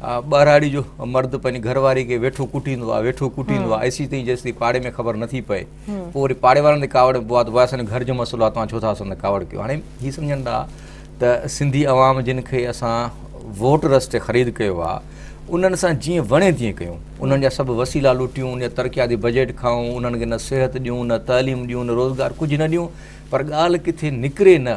ٻهراڙي جو مرد پنهنجي گهر واري کي ويٺو ڪٽيندو آهي ويٺو ڪٽيندو آهي ايسي تائين جيسي پاڙي ۾ خبر نٿي پئي پوء وري پاڙي وارن تي ڪاوڙ پوي ته اسان جو گهر جو مسئلو آهي توهان ڇو ٿا اسان تي ڪاوڙ ڪيو هاڻي هي سمجهن ٿا ته سنڌي عوام جن کي اسان ووٽ رستي خريد ڪيو آهي انهن سان جيئن وڻي تيئن ڪيون انهن جا سڀ وسيلا لوٽيون ان جا ترقياتي بجيٽ کائون انهن کي نه صحت ڏيون نه تعليم ڏيون نه روزگار ڪجهه نه ڏيون پر ڳالهه ڪٿي نڪري نه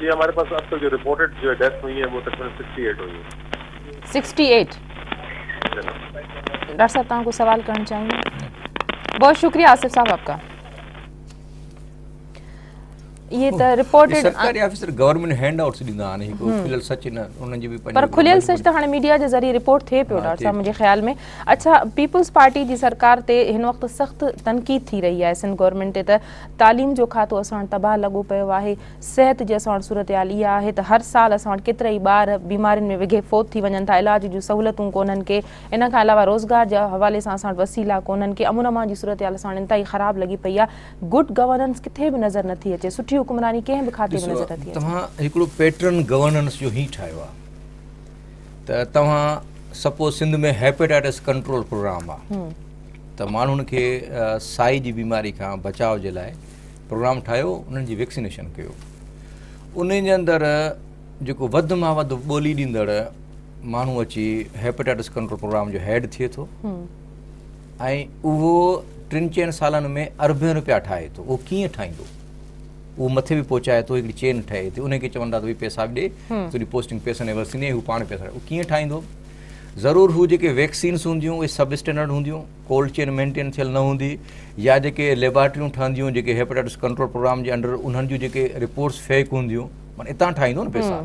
جي هماري پاس اب تڪ جو رپورٽيڊ جو ڊيٿ هئي هي وو تقريبن سڪسٽي ايٽ هئي سڪسٽي ايٽ ڊاڪٽر صاحب توهان ڪو سوال ڪرڻ چاهيو بہت شڪريه آصف صاحب آپ ڪا اهي ته رپورٽ سرڪاري آفيسر گورنمنٽ هينڊ آئوٽس ڏيندا آهن هڪ کليل سچ نه انهن جي به پر کليل سچ ته هاڻي ميڊيا جي ذريعي رپورٽ ٿئي پيو ڊاڪٽر صاحب منهنجي خيال ۾ اڇا پيپلز پارٽي جي سرڪار تي هن وقت سخت تنقيد ٿي رهي آهي سنڌ گورنمنٽ تي ته تعليم جو کاتو اسان وٽ تباهه لڳو پيو آهي. صحت جي اسان وٽ صورتحال اها آهي ته هر سال اسان وٽ ڪيترائي ٻار بيمارين ۾ وگهي فوت ٿي وڃن ٿا، علاج جون سهولتون ڪونهن ڪي، ان کان علاوه روزگار جي حوالي سان اسان وٽ وسيلا ڪونهن ڪي، امن امان جي صورتحال اسان وٽ انتهائي خراب لڳي پئي آهي، گڊ گورننس ڪٿي به نظر نه ٿي اچي، سٺي حڪمراني ڪنهن به کاتي ۾ نظر نه ٿي اچي. ڏسو توهان هڪڙو پيٽرن گورننس جو هي ٺاهيو آهي. ته توهان suppose Sindh ۾ hepatitis control programme آ ته ماڻهن کي سائي جي بيماري کان بچاء جي لاء پروگرام ٺاهيو انهن جي ويڪسينيشن ڪيو انهن جي اندر جيڪو وڌ مان وڌ ٻولي ڏيندڙ ماڻهو اچي هيپيٽائٽس ڪنٽرول پروگرام جو هيڊ ٿئي ٿو ۽ اهو ٽن چئن سالن ۾ اربين روپيا ٺاهي ٿو اهو ڪيئن ٺاهيندو اهو مٿي به پهچائي ٿو هڪڙي چين ٺهي ٿي انهي کي چون ٿا ته ڀئي پيسا به ڏي تنهنجي پوسٽنگ پيسن ايور ٿيندي هو پاڻ پيسا هو ڪيئن ٺاهيندو ضرور هو جيڪي ويڪسينس هونديون اهي سب اسٽينڊرڊ هونديون ڪولڊ چين مينٽين ٿيل نه هوندي يا جيڪي ليبارٽريون ٺهنديون جيڪي هيپاٽائٽس ڪنٽرول پروگرام جي انڊر انهن جون جيڪي رپورٽس فيڪ هونديون معنی اتان ٺاهيندو نه پيسا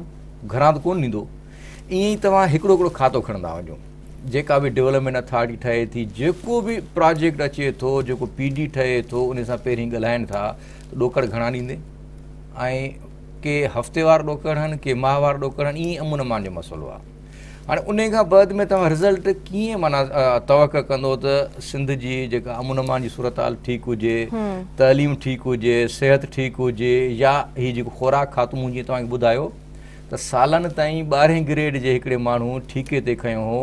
گهران ته ڪون ڏيندو ائين ئي توهان هڪڙو هڪڙو کاتو کڻندا وڃو جيڪا به ڊولپمينٽ اٿارٽي ٺهي ٿي جيڪو به پراجيڪٽ اچي ٿو جيڪو پي ڊي ٺهي ٿو ان سان پهرين ڳالهائن ٿا ته ڏوڪڙ گهڻا ڏيندي ۽ ڪي هفتي وار ڏوڪڙ هن ڪي ماهه وار ڏوڪڙ هن ائين امن امان جو مسئلو آهي هاڻي ان کان بعد ۾ توهان رزلٽ ڪيئن مانا توقع ڪندو ته سنڌ جي جيڪا امن امان جي صورتحال ٺيڪ هجي تعليم ٺيڪ هجي صحت ٺيڪ هجي يا هي جيڪو خوراڪ کاتو مون جيئن توهان کي ٻڌايو ته سالن تائين ٻارهين گريڊ جي هڪڙي ماڻهو ٺيڪي تي کنيو هو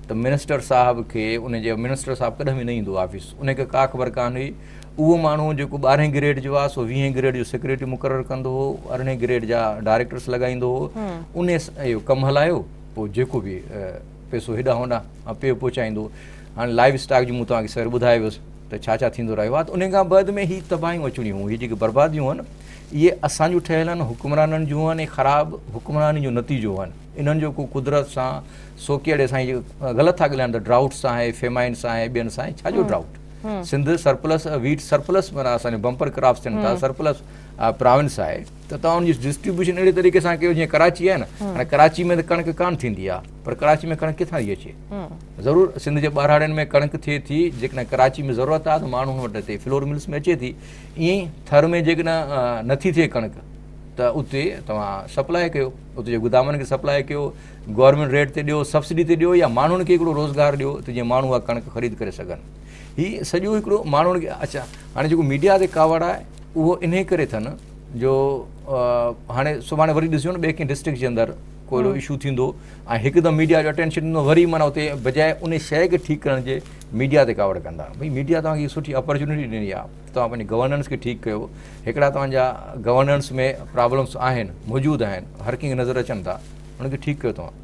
ته منسٽر صاحب کي ان جي منسٽر صاحب ڪڏهن به نه ايندو آفيس ان کي ڪا خبر ڪانه هئي اهو ماڻهو جيڪو ٻارهين گريڊ جو آ سو ويهين گريڊ جو سيڪريٽري مقرر ڪندو هو ارڙهين گريڊ جا ڊائريڪٽرس لڳائيندو هو ان اهو ڪم هلايو پوء جيڪو به پيسو هيڏا هوندا پيو پهچائيندو هاڻي لائيو اسٽاڪ جو مون توهان کي سر ٻڌايو هيس ته ڇا ڇا ٿيندو رهيو آ ته ان کان بعد ۾ هي تباهيون اچڻيون هيون هي جيڪي برباديون هن اهي اسان جون ٺهيل آهن، حڪمرانن جون آهن ۽ خراب حڪمراني جو نتيجو آهن. انهن جو ڪو قدرت سان سوڪيئڙي سان اهي غلط ٿا ڳالهائن ته ڊرائوٽ سان آهي، فيمائن سان آهي، ٻين سان آهي، ڇا جو drought? Sindh surplus wheat surplus معنيٰ اسان جون بمپر ڪراپس ٿين ٿا، سرپلس پراونس آهي ته توهان ان جي ڊسٽريبيوشن اهڙي طريقي سان ڪيو جيئن ڪراچي آهي نه، هاڻي ڪراچي ۾ ته ڪڻڪ ڪانه ٿيندي آهي پر ڪراچي ۾ ڪڻڪ ڪٿان ٿي اچي؟ ضرور سنڌ جي ٻهراڙين ۾ ڪڻڪ ٿئي ٿي، جيڪڏهن ڪراچي ۾ ضرورت آهي ته ماڻهو ان وٽ هتي فلور ملس ۾ اچي ٿي. ائين ئي ٿر ۾ جيڪڏهن نٿي ٿئي ڪڻڪ ته اتي توهان سپلاء ڪيو اتي جي گدامن کي سپلاء ڪيو گورنمينٽ ريٽ تي ڏيو سبسڊي تي ڏيو يا ماڻهن کي هڪڙو روزگار ڏيو ته جيئن ماڻهو اها ڪڻڪ خريد ڪري سگهن هي سڄو هڪڙو ماڻهن کي اچا هاڻي جيڪو ميڊيا تي ڪاوڙ آهي اهو انهي ڪري اٿن جو هاڻي سڀاڻي وري ڏسجو نه ٻئي ڪنهن ڊسٽرڪٽ جي اندر ڪو اهڙو ايشو ٿيندو ۽ هڪدم ميڊيا جو اٽينشن ڏنو وري معنيٰ اتي بجاء ان شيء کي ٺيڪ ڪرڻ جي ميڊيا تي ڪاوڙ ڪندا ڀئي ميڊيا توهان کي سٺي اپرچونٽي ڏني آ توهان پنهنجي گورننس کي ٺيڪ ڪيو هڪڙا توهان جا گورننس ۾ پرابلمس آهن موجود آهن هر ڪنهن کي نظر اچن ٿا ان کي ٺيڪ ڪيو توهان.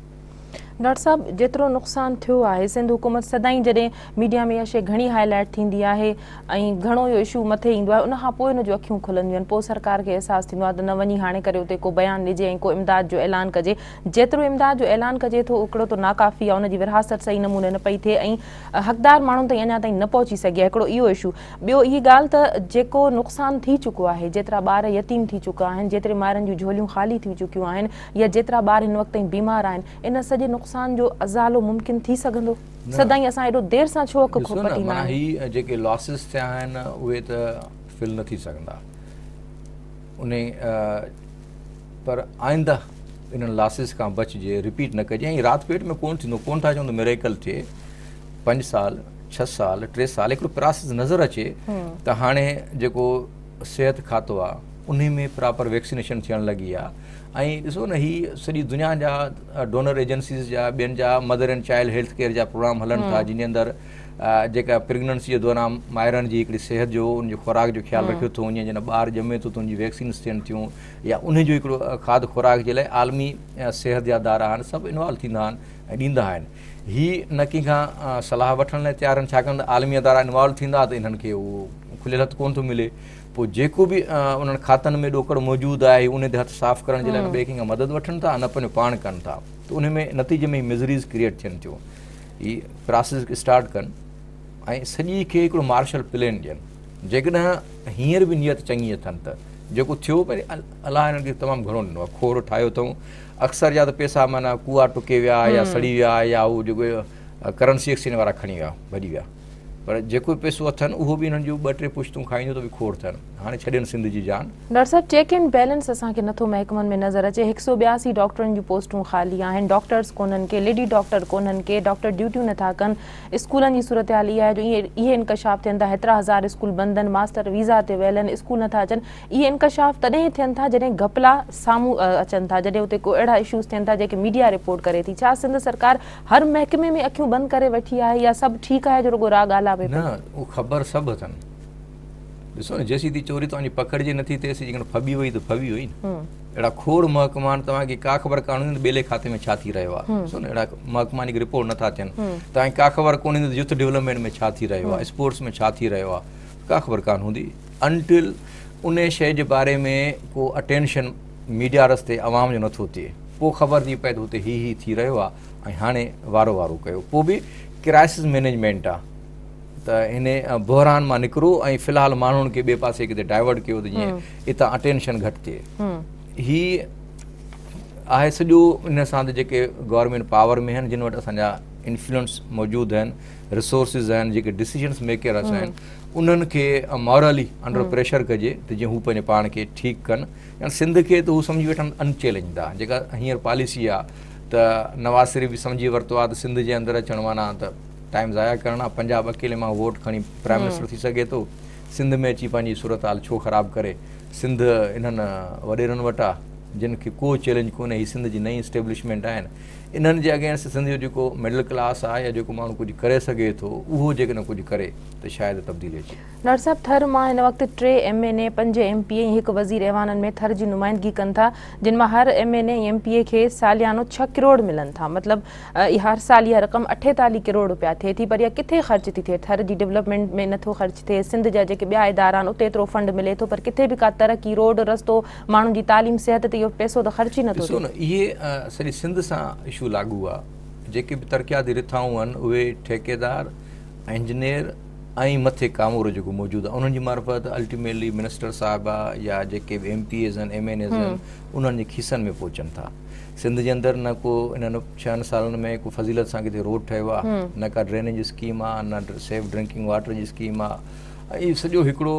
ڊاڪٽر صاحب جيترو نقصان ٿيو آهي سنڌ حڪومت سدائين جڏهن ميڊيا ۾ اها شئي گهڻي هاء لائيٽ ٿيندي آهي ۽ گهڻو اهو اشو مٿي ايندو آهي ان کان پوء ان جون اکيون کلنديون آهن پوء سرڪار کي احساس ٿيندو آهي ته نه وڃي هاڻي ڪري اتي ڪو بيان ڏجي ۽ ڪو امداد جو اعلان ڪجي جيترو امداد جو اعلان ڪجي ٿو اڪڙو ته ناڪافي آهي ان جي ورهاست صحيح نموني نه پئي ٿئي ۽ حقدار ماڻهن تائين اڃا تائين نه پهچي سگهي آهي هڪڙو اهو اشو ٻيو هي ڳالهه ته جيڪو نقصان ٿي چڪو آهي جيترا ٻار يتيم ٿي چڪا آهن جيتري مائرن جون جهوليون خالي ٿي چڪيون آهن يا جيترا ٻار هن وقت تائين بيمار آهن ان سڄي نقصان جو ازالو ممڪن ٿي سگهندو سدائين اسان ايڏو دير سان ڇو اک کول پٽيندا آهيون. ڏسو نه معنيٰ هي جيڪي لاسز ٿيا آهن اهي ته فل نه ٿي سگهندا. انهي پر آئنده انهن لاسز کان بچجي رپيٽ نه ڪجي ۽ رات پيٽ ۾ ڪون ٿيندو ڪون ٿا چون ته ميريڪل ٿئي پنج سال ڇهه سال ٽي سال هڪڙو پراسز نظر اچي ته هاڻي جيڪو صحت کاتو آ انهي ۾ پراپر ويڪسينيشن ٿيڻ لڳي آ ۽ ڏسو نه هي سڄي دنيا جا ڊونر ايجنسيز جا ٻين جا mother and child health care جا پروگرام هلن ٿا جن جي اندر جيڪا پريگننسي جي دوران مائرن جي هڪڙي صحت جو ان جي خوراڪ جو خيال رکيو ٿو وڃي جڏهن ٻار ڄمي ٿو ته ان جي ويڪسينس ٿين ٿيون يا انهي جو هڪڙو کاڌ خوراڪ جي لاء عالمي صحت جا ادارا آهن سڀ انوالو ٿيندا آهن ۽ ڏيندا آهن هي نه ڪنهن کان صلاح وٺڻ لاء تيار آهن ڇاڪاڻ ته عالمي ادارا انوالو ٿيندا ته انهن کي اهو کليل هٿ ڪونه ٿو ملي پوء جيڪو به انهن کاتن ۾ ڏوڪڙ موجود آهي انهي تي هٿ صاف ڪرڻ جي لاء نه ٻئي ڪنهن کان مدد وٺن ٿا نه پنهنجو پاڻ ڪن ٿا ته انهي ۾ نتيجي ۾ مزريز ڪريئيٽ ٿين ٿيون هي پراسيس کي اسٽارٽ ڪن ۽ سڄي کي هڪڙو مارشل پلين ڏين جيڪڏهن هينئر به نيت چڱي اٿن ته جيڪو ٿيو پر الله هنن کي تمام گهڻو ڏنو آهي کور ٺاهيو اٿئون اڪثر يا ته پيسا معنيٰ ڪوئا ٽڪي ويا يا سڙي ويا يا هو جيڪو ڪرنسي ايڪسچينج وارا کڻي ويا ڀڄي ويا پر جيڪو پيسو اٿن اهو به انهن جون ٻه ٽي پشتون کائيندو ته به کوڙ ٿن. هاڻي ڇڏين سنڌ جي جان. ڊاڪٽر صاحب چيڪ اينڊ بيلنس اسان کي نٿو محڪمن ۾ نظر اچي هڪ سئو ٻياسي ڊاڪٽرن جون پوسٽون خالي آهن ڊاڪٽرز ڪونهن ڪي ليڊي ڊاڪٽر ڪونهن ڪي ڊاڪٽر ڊيوٽيون نٿا ڪن اسڪولن جي صورتحال اها آهي جو اهي انڪشاف ٿين ٿا هيترا هزار اسڪول بند اهن ماستر ويزا تي ويل اهن اسڪول نٿا اچن اهي انڪشاف تڏهن ٿين ٿا جڏهن گهپلا سامهون اچن ٿا جڏهن اتي ڪو اهڙا اشوز ٿين ٿا جنهن کي ميڊيا رپورٽ ڪري ٿي ڇا سنڌ سرڪار هر محڪمي ۾ اکيون بند ڪري ويٺي آهي يا سڀ ٺيڪ آهي جو رڳو راء ڳالهاء پئي. نه اهو خبر سڀ اٿن ڏسو نه جيسين تي چوري توهان جي پڪڙجي نه ٿي تيسين جيڪڏهن ڦٻي وئي ته ڦٻي وئي نه اهڙا کوڙ محڪما آهن توهان کي ڪا خبر ڪانه هوندي ته ٻيلي کاتي ۾ ڇا ٿي رهيو آهي ڏسو نه اهڙا محڪما آهن جيڪي رپورٽ نه ٿا ٿين توهان کي ڪا خبر ڪونه هوندي ته يوٿ ڊولپمينٽ ۾ ڇا ٿي رهيو آهي اسپورٽس ۾ ڇا ٿي رهيو آهي ڪا خبر ڪانه هوندي انٽل انهي شئي جي باري ۾ ڪو اٽينشن ميڊيا رستي عوام جو نٿو ٿئي پو خبر ٿي پئي ته هتي هي هي ٿي رهيو آ ۽ هاڻي وارو وارو ڪيو پو به ڪرائسز مينيجمينٽ آ ته هن بحران مان نڪرو ۽ في الحال ماڻهن کي ٻي پاسي ڪٿي ڊائيورٽ ڪيو ته جيئن اتان اٽينشن گهٽ ٿئي هي آهي سڄو ان سان ته جيڪي گورنمينٽ پاور ۾ آهن جن وٽ اسان جا انفلوئنس موجود آهن رسورسز آهن جيڪي ڊسيزنس ميڪرس آهن انهن کي مورلي انڊر پريشر ڪجي ته جيئن هو پنهنجي پاڻ کي ٺيڪ ڪن ڄڻ سنڌ کي ته هو سمجهي ويٺن ان چئلينج دا جيڪا هينئر پاليسي آ ته نواز شريف به سمجهي ورتو آ ته سنڌ جي اندر اچڻ معنيٰ ته ٽائيم ضايع ڪرڻ آ پنجاب اڪيلي مان ووٽ کڻي پرائيم منسٽر ٿي سگهي ٿو سنڌ ۾ اچي پنهنجي صورتحال ڇو خراب ڪري سنڌ انهن وڏيرن وٽ آ جن کي ڪو چئلينج ڪونهي هي سنڌ جي نئين اسٽيبلشمينٽ آهن انهن جي اگينسٽ سنڌ جو جيڪو مڊل ڪلاس آ يا جيڪو ماڻهو ڪجهه ڪري سگهي ٿو اهو جيڪڏهن ڪجهه ڪري ته شايد تبديلي اچي ڊار صاحب ٿر مان هن وقت ٽي ايم اين اي، پنج ايم پي اي ۽ هڪ وزير ايوانن ۾ ٿر جي نمائندگي ڪن ٿا جن مان هر M N A ۽ M P A کي ساليانو ڇهه ڪروڙ ملن ٿا مطلب اها هر سال اها رقم اٺيتاليهه ڪروڙ روپيا ٿئي ٿي پر اها ڪٿي خرچ ٿي ٿئي ٿر جي ڊولپمينٽ ۾ نٿو خرچ ٿئي سنڌ جا جيڪي ٻيا ادارا آهن اتي ايترو فنڊ ملي ٿو پر ڪٿي به ڪا ترقي روڊ رستو ماڻهن جي تعليم صحت تي اهو پئسو ته خرچ ئي نٿو ٿئي. ڏسو نه اهي سڄي سنڌ سان اشو لاڳو آهي جيڪي به ترقياتي رٿائون آهن اهي ٺيڪيدار انجنيئر ۽ مٿي ڪامورو جيڪو موجود آهي انهن جي معرفت الٽيميٽلي منسٽر صاحبه يا جيڪي به ايم پي ايز آهن ايم اين ايز آهن انهن جي کيسن ۾ پهچن ٿا سنڌ جي اندر نه ڪو انهن ڇهن سالن ۾ ڪو فضيلت سان ڪٿي روڊ ٺهيو آهي نه ڪا ڊرينيج اسڪيم آهي نه سيف ڊرنڪنگ واٽر جي اسڪيم آهي ۽ سڄو هڪڙو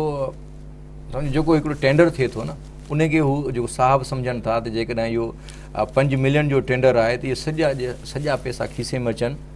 سمجھو جيڪو هڪڙو ٽينڊر ٿئي ٿو نه ان کي هو جو صاحب سمجھن ٿا ته جيڪڏهن اهو پنج ملين جو ٽينڊر آهي ته اهي سڄا سڄا پئسا کيسي ۾ اچن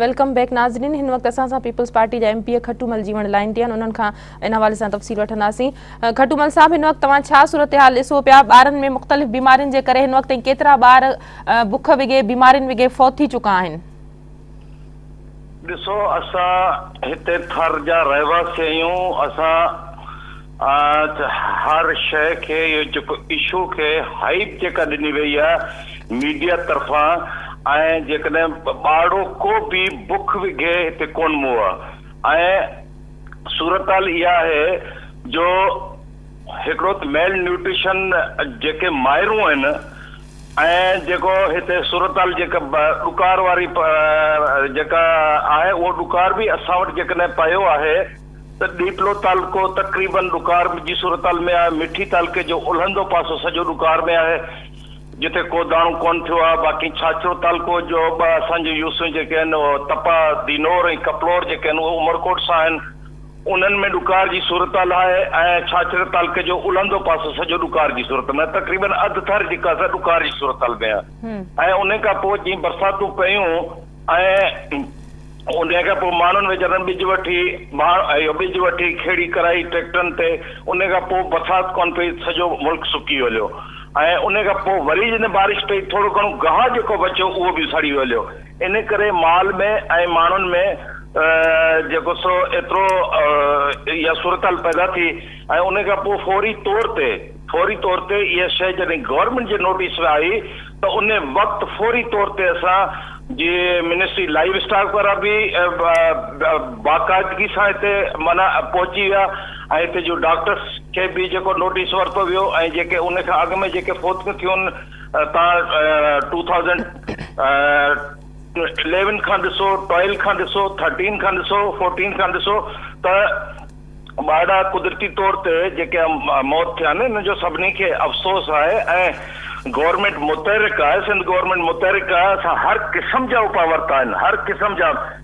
ويلڪم بيڪ ناظرين هن وقت اسان سان پيپلز پارٽي جا M P A Khatu Mal جي وڻ لائن تي آهن انهن کان ان حوالي سان تفصيل وٺنداسين کٽو مل صاحب هن وقت توهان ڇا صورتحال ڏسو پيا ٻارن ۾ مختلف بيمارين جي ڪري هن وقت ڪيترا ٻار بک وگي بيمارين وگي فوت ٿي چڪا آهن ڏسو اسان هتي ٿر جا رهواسي آهيون اسان هر شئي کي اهو جيڪو اشو کي هائيپ جيڪا ڏني وئي آهي ميڊيا طرفان ۽ جيڪڏهن ٻارڙو ڪو به بک وگهي هتي ڪون مئو آهي ۽ صورتحال اها آهي جو هڪڙو ميل نيوٽريشن جيڪي مائرون آهن ۽ جيڪو هتي صورتحال جيڪا ڏڪار واري جيڪا آهي اهو ڏڪار به اسان وٽ جيڪڏهن پيو آهي ته ڏيپلو تعلقو تقريبن ڏڪار جي صورتحال ۾ آهي مٺي تعلقي جو الهندو پاسو سڄو ڏڪار ۾ آهي جتي ڪو داڻو ڪونه ٿيو آهي باقي ڇاڇرو تعلقو جو ٻه اسان جون يوسون جيڪي آهن تپا دينور ۽ ڪپلور جيڪي آهن اهي عمرڪوٽ سان آهن انهن ۾ ڏڪار جي صورت الاهي ۽ ڇاڇري تعلقي جو الهندو پاسو سڄو ڏڪار جي صورت ۾ تقريبن اڌ ٿر جيڪا سا ڏڪار جي صورت حال ۾ ۽ انهي کان پوء جي برساتون پيون ۽ انهي کان پوء ماڻهن ويچارن ٻج وٺي اهو ٻج وٺي کيڙي ڪرائي ٽريڪٽرن تي انهي کان پوء برسات ڪونه پئي سڄو ملڪ سڪي هليو ۽ انهي کان پوء وري جڏهن بارش پئي ٿورو گهڻو گاهه جيڪو بچيو اهو به سڙي هليو ان ڪري مال ۾ ۽ ماڻهن ۾ جيڪو سو ايترو اها صورتحال پيدا ٿي ۽ ان کان پوء فوري طور تي فوري طور تي اها شيء جڏهن گورنمينٽ جي نوٽيس ۾ آئي ته ان وقت فوري طور تي اسان جي منسٽري لائيو اسٽاڪ وارا به باقاعدگي سان هتي معنيٰ پهچي ويا ۽ هتي جو ڊاڪٽرس کي به جيڪو نوٽيس ورتو ويو ۽ جيڪي ان کان اڳ ۾ جيڪي فوتيون ٿيون تان ٽو ٿائوزنڊ اليون کان ڏسو ٽويلو کان ڏسو ٿرٽين کان ڏسو فورٽين کان ڏسو ته ٻارڙا قدرتي طور تي جيڪي موت ٿيا آهن ان جو سڀني کي افسوس آهي ۽ گورنمينٽ متحرڪ آهي سنڌ گورنمينٽ متحرڪ آهي اسان هر قسم جا اپاء ورتا آهن هر قسم جا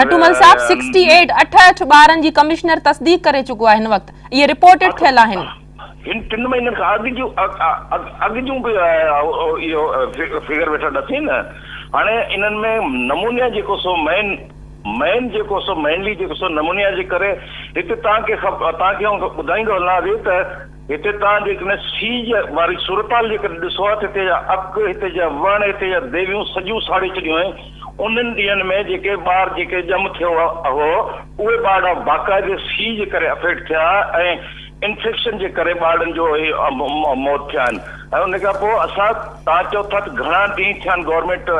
کٽومل صاحب سڪسٽي ايٽ اٺ اٺ ٻارن جي ڪمشنر تصديق ڪري چڪو آهي هن وقت اهي رپورٽيڊ ٿيل آهن. هن ٽن مهينن کان اڳ جون اڳ جون به اهو فگر ويٺا ڏسين نه هاڻي انهن ۾ نمونيا جيڪو سو مين مين جيڪو سو مينلي جيڪو سو نمونيا جي ڪري هتي تان کي تان کي آئون ٻڌائيندو هلان اڳي ته هتي تان جيڪڏهن سيج واري صورتحال جيڪڏهن ڏسو ها ته هتي جا اک هتي جا وڻ هتي جا ديويون سڄيون ساڙي ڇڏيون آهن انهن ڏينهن ۾ جيڪي ٻار جيڪي ڄم ٿيو هو، اهي ٻارڙا باقاعدي سيء جي ڪري افيڪٽ ٿيا ۽ انفيڪشن جي ڪري ٻارڙن جو هي موت ٿيا آهن ۽ ان کان پوء اسان توهان چئو ٿا ته گهڻا ڏينهن ٿيا آهن گورنمينٽ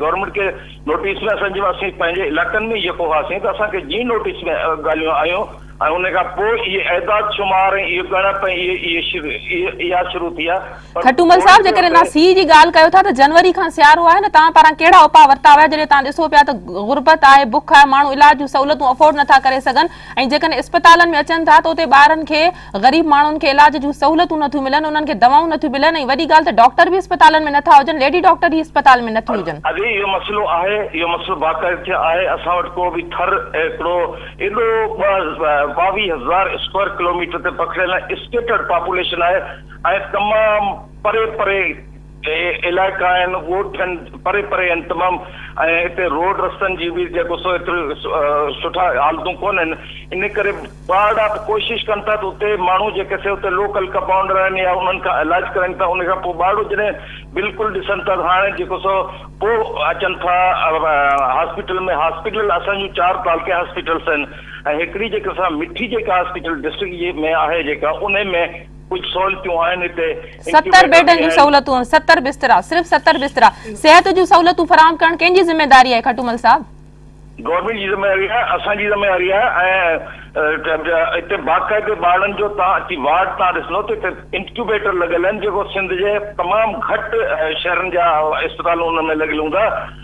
گورنمينٽ کي نوٽيس ۾ اسان جي اسين پنهنجي علائقن ۾ جيڪو هئاسين ته اسان کي جيئن نوٽيس ۾ ڳالهيون آيون ۽ ان کان پوء اهي اعداد شمار ۽ اهي ڳڻپ ۽ اهي اهي اها شروع ٿيا کٽومل صاحب جيڪڏهن توهان سي جي ڳالهه ڪيو ٿا ته جنوري کان سيارو آهي نه توهان پاران ڪهڙا اپاء ورتا ويا جڏهن توهان ڏسو پيا ته غربت آهي بک آهي ماڻهو علاج جون سهولتون افورڊ نٿا ڪري سگهن ۽ جيڪڏهن اسپتالن ۾ اچن ٿا ته اتي ٻارن کي غريب ماڻهن کي علاج جون سهولتون نٿيون ملن انهن کي دوائون نٿيون ملن ۽ وڏي ڳالهه ته ڊاڪٽر به اسپتالن ۾ نٿا هجن ليڊي ڊاڪٽر ئي اسپتال ۾ نٿيون هجن. اڳي اهو مسئلو آهي اهو مسئلو باقاعدتيا آهي اسان وٽ ڪو به ٿر هڪڙو ايڏو ٻاويهه هزار اسڪوائر ڪلوميٽر تي پکڙيل نه اسڪيٽرڊ پاپوليشن آهي ۽ تمام پري پري علائقا آهن، ڳوٺ آهن، پري پري آهن تمام ۽ اتي روڊ رستن جي به جيڪو سو ايتري سٺا حالتون ڪونهن ان ڪري ٻارڙا به ڪوشش ڪن ٿا ته اتي ماڻهو جيڪي سي اتي لوڪل ڪپائونڊر آهن يا انهن کان علاج ڪرائين ٿا ان کان پوء ٻارڙو جڏهن بلڪل ڏسن ٿا هاڻي جيڪو سو پوء اچن ٿا هاسپيٽل ۾ هاسپيٽل اسان جون چار تعلقي هاسپيٽلس آهن ۽ هڪڙي جيڪي سا مٺي جيڪا هاسپيٽل ڊسٽرڪٽ جي ۾ آهي جيڪا انهي ۾ ڪجهه سهولتون آهن هتي ستر بيڊن جون سهولتون ستر بسترا صرف ستر بسترا صحت جون سهولتون فراهم ڪرڻ ڪنهن جي ذميواري آهي کٽومل صاحب. گورنمينٽ جي ذميواري آهي اسان جي ذميواري آهي ۽ هتي باقاعدي ٻارڙن جو توهان اچي وارڊ توهان ڏسندو ته هتي انڪيوبيٽر لڳل آهن جيڪو سنڌ جي تمام گهٽ شهرن جا اسپتالون ان ۾ لڳل هوندا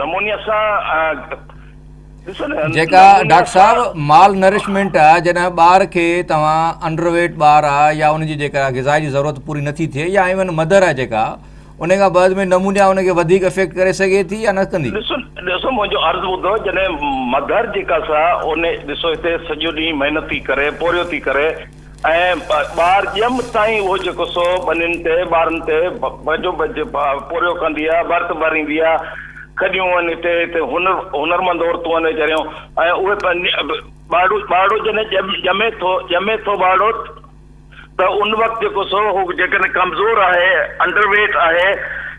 نمونيا سا ڏسو نه جيڪا ڊاڪٽر صاحب مال نرشمنٽ آ جڏهن ٻار کي توهان انڊر ويٽ ٻار آ يا ان جي جيڪا غذا جي ضرورت پوري نٿي ٿئي يا ايون مدر آ جيڪا ان کان بعد ۾ نمونيا ان کي وڌيڪ افيڪٽ ڪري سگهي ٿي يا نه ڪندي ڏسو ڏسو منهنجو عرض ٻڌو جڏهن مدر جيڪا سا ان ڏسو هتي سڄو ڏينهن محنت ٿي ڪري پورهيو ٿي ڪري ۽ ٻار ڄم تائين اهو جيڪو سو ٻنين تي، ٻارن تي، ڀڄو ڀڄ پورهيو ڪندي آ، ڀرت ڀريندي آ. کڏيون ان تي تي هنر هنرمند عورتون ان ويچاريون ۽ اهي ٻارڙو ٻارڙو جڏهن ڄم ڄمي ٿو ڄمي ٿو ٻارڙو ته ان وقت جيڪو سو هو جيڪڏهن ڪمزور آهي انڊر ويٽ آهي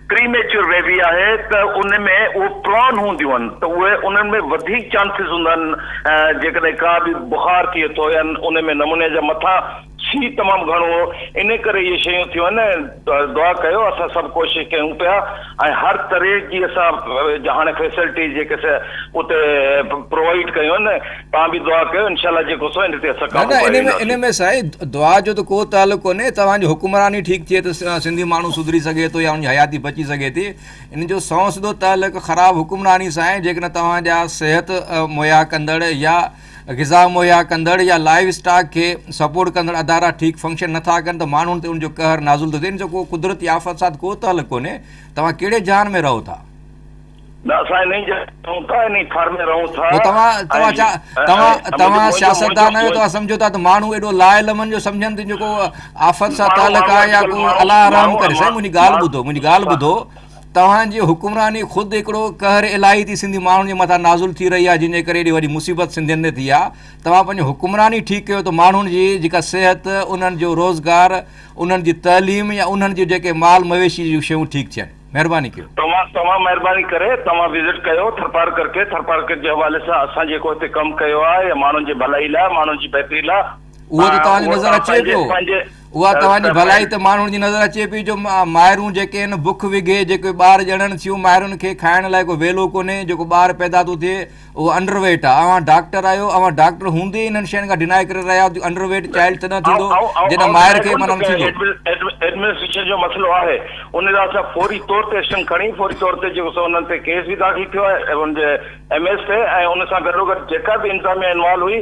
پريميچور بيبي آهي ته ان ۾ اهي پران هونديون آهن ته اهي انهن ۾ وڌيڪ چانسز هوندا آهن جيڪڏهن ڪا به بخار ٿئي ٿو يا ان ۾ نمونيا جا مٿان سي تمام گهڻو هو ان ڪري اهي شيون ٿيون آهن دعا ڪيو اسان سڀ ڪوشش ڪيون پيا ۽ هر طرح جي اسان هاڻي فيسلٽي جيڪي سي اتي پرووائيڊ ڪيون آهن توهان به دعا ڪيو انشاء الله جيڪو سو ان تي اسان نه قابو نه پائي ان ۾ ان وينداسين. ۾ سائين دعا جو ته ڪو تعلق ڪونهي توهان جي حڪمراني ٺيڪ ٿئي ته سنڌي ماڻهو سڌري سگهي ٿو يا ان جي حياتي بچي سگهي ٿي ان جو سنئون سڌو تعلق خراب حڪمراني سان آهي جيڪڏهن توهان جا صحت مهيا ڪندڙ يا غذا مهيا ڪندڙ يا لائيو اسٽاڪ کي سپورٽ ڪندڙ ادارا ٺيڪ فنڪشن نه ٿا ڪن ته ماڻهن تي ان جو قهر نازل ٿو ٿئي ان جو ڪو قدرتي آفت سان ڪو تعلق ڪونهي توهان ڪهڙي جهان ۾ رهو ٿا. نه اسان انهي جاء تي رهون ٿا انهي ٿر ۾ رهون ٿا. پوء توهان توهان ڇا توهان توهان سياستدان آهيو توهان سمجهو ٿا ته ماڻهو ايڏو لا علمن جو سمجهن ته جيڪو آفت سان تعلق آهي يا ڪو الله رحم ڪري سائين منهنجي ڳالهه ٻڌو منهنجي ڳالهه ٻڌو توهان جي حڪمراني خود هڪڙو قهر الاهي ٿي سنڌي ماڻهن جي مٿان نازل ٿي رهي آهي جنهن جي ڪري ايڏي وڏي مصيبت سنڌين تي ٿي آهي توهان پنهنجي حڪمراني ٺيڪ ڪيو ته ماڻهن جي جيڪا صحت انهن جو روزگار انهن جي تعليم يا انهن جي جيڪي مال مويشي جون شيون ٺيڪ ٿين مهرباني ڪيو. توهان توهان مهرباني ڪري توهان وزٽ ڪيو ٿرپارڪر کي ٿرپارڪر جي حوالي سان اسان جيڪو هتي ڪم ڪيو آهي يا ماڻهن جي ڀلائي لاء ماڻهن جي بهتري لاء اهو ته توهان جي نظر اچي پيو اها توهان جي ڀلائي ته ماڻهن جي نظر اچي پيو جو مائرون جيڪي آهن بک وگهي جيڪي ٻار ڄڻن ٿيون مائرن کي کائڻ لاء ڪو ويلو ڪونهي جيڪو ٻار پيدا ٿو ٿئي اهو انڊر ويٽ آ اوهان ڊاڪٽر آهيو اوهان ڊاڪٽر هوندي ئي انهن شين کان ڊيناء ڪري رهيا آهيو ته انڊر ويٽ چائلڊ تڏهن ٿيندو جڏهن مائر کي منهن ۾ ٿيندو. ايڊمنسٽريشن جو مسئلو آهي ان لاء اسان فوري طور تي ايڪشن کڻي فوري طور تي جيڪو سو انهن تي ڪيس به داخل ٿيو آهي ان جي ايم ايس تي ۽ ان سان گڏوگڏ جيڪا به انتظاميا انوالو هئي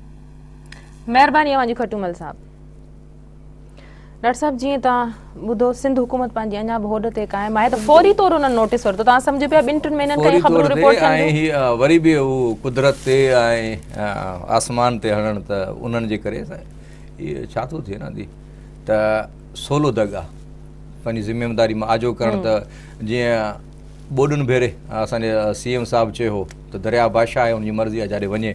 مهرباني اوهان جي کٽومل صاحب. ڊاڪٽر صاحب جيئن توهان ٻڌو سنڌ حڪومت پنهنجي اڃا به هوڏ تي قائم آهي ته فوري طور انهن نوٽيس ورتو توهان سمجهو پيا ٻن ٽن مهينن کان خبرون رپورٽ ٿين ۽ هي وري به هو قدرت تي ۽ آسمان تي هڻن ته انهن جي ڪري هي ڇا ٿو ٿئي نه ته سولو دڳ آ پنهنجي ذميواري مان آجو ڪرڻ ته جيئن ٻوڏن ڀيري اسان جي سي ايم صاحب چيو هو ته درياء بادشاهه آهي ان جي مرضي آ جاڏي وڃي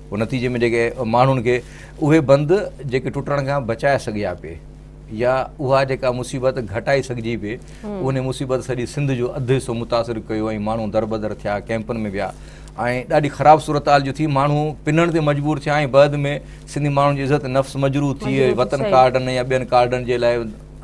پوء نتيجي ۾ جيڪي ماڻهن کي اهي بند جيڪي ٽٽڻ کان بچائي سگهيا پي يا اها جيڪا مصيبت گهٽائي سگهجي پي ان مصيبت سڄي سنڌ جو اڌ حصو متاثر ڪيو ۽ ماڻهو دربدر ٿيا ڪيمپن ۾ ويا ۽ ڏاڍي خراب صورتحال جو ٿي ماڻهو پنڻ تي مجبور ٿيا ۽ بعد ۾ سنڌي ماڻهن جي عزت نفس مجروح ٿي وطن ڪارڊن يا ٻين ڪارڊن جي لاء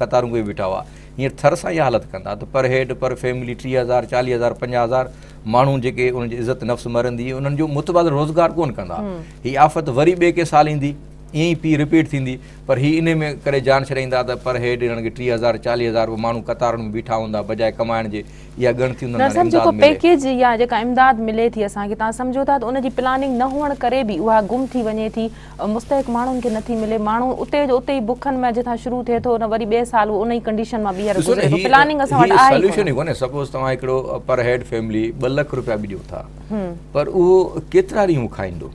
قطارون ڪوئي بيٺا هئا هينئر ٿر سان اها حالت ڪندا ته پر هيڊ پر فيملي ٽيهه هزار چاليهه هزار پنجاهه هزار ماڻهو جيڪي ان جي عزت نفس مرندي انهن جو متبادل روزگار ڪون ڪندا هي آفت وري ٻي ڪي سال ايندي ائين ئي پي رپيٽ ٿيندي پر هي ان ۾ ڪري جان ڇڏائيندا ته پر هيڊ هنن کي ٽيهه هزار چاليهه هزار روپيا ماڻهو قطارن ۾ بيٺا هوندا بجاء ڪمائڻ جي اها ڳڻتي هوندي دراصل جيڪو پيڪيج يا جيڪا امداد ملي ٿي اسان کي تان سمجهو ٿا ته ان جي پلاننگ نه هئڻ ڪري به اها گم ٿي وڃي ٿي مستحق ماڻهن کي نٿي ملي ماڻهو اتي جو اتي ئي بکن ۾ جتان شروع ٿئي ٿو نه وري ٻئي سال ان ئي ڪنڊيشن مان ٻيهر گذري ٿو پلاننگ اسان وٽ آهي ئي ڪونه ڪونهي سپوز توهان هڪڙو پر هيڊ فيملي ٻه لک روپيا به ڏيو ٿا پر اهو ڪيترا ڏينهن هو کائيندو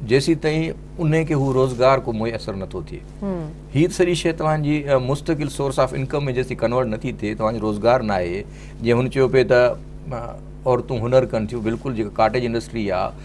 جيسيتائين ان کي هو روزگار ڪو ميسر نٿو ٿئي هي سڄي شيء توهان جي مستقل سورس آف انڪم ۾ جيسيتائين ڪنورٽ نٿي ٿئي توهان جو روزگار ناهي جيئن هن چيو پئي ته عورتون هنر ڪن ٿيون بلڪل جيڪا ڪاٽيج انڊسٽري آهي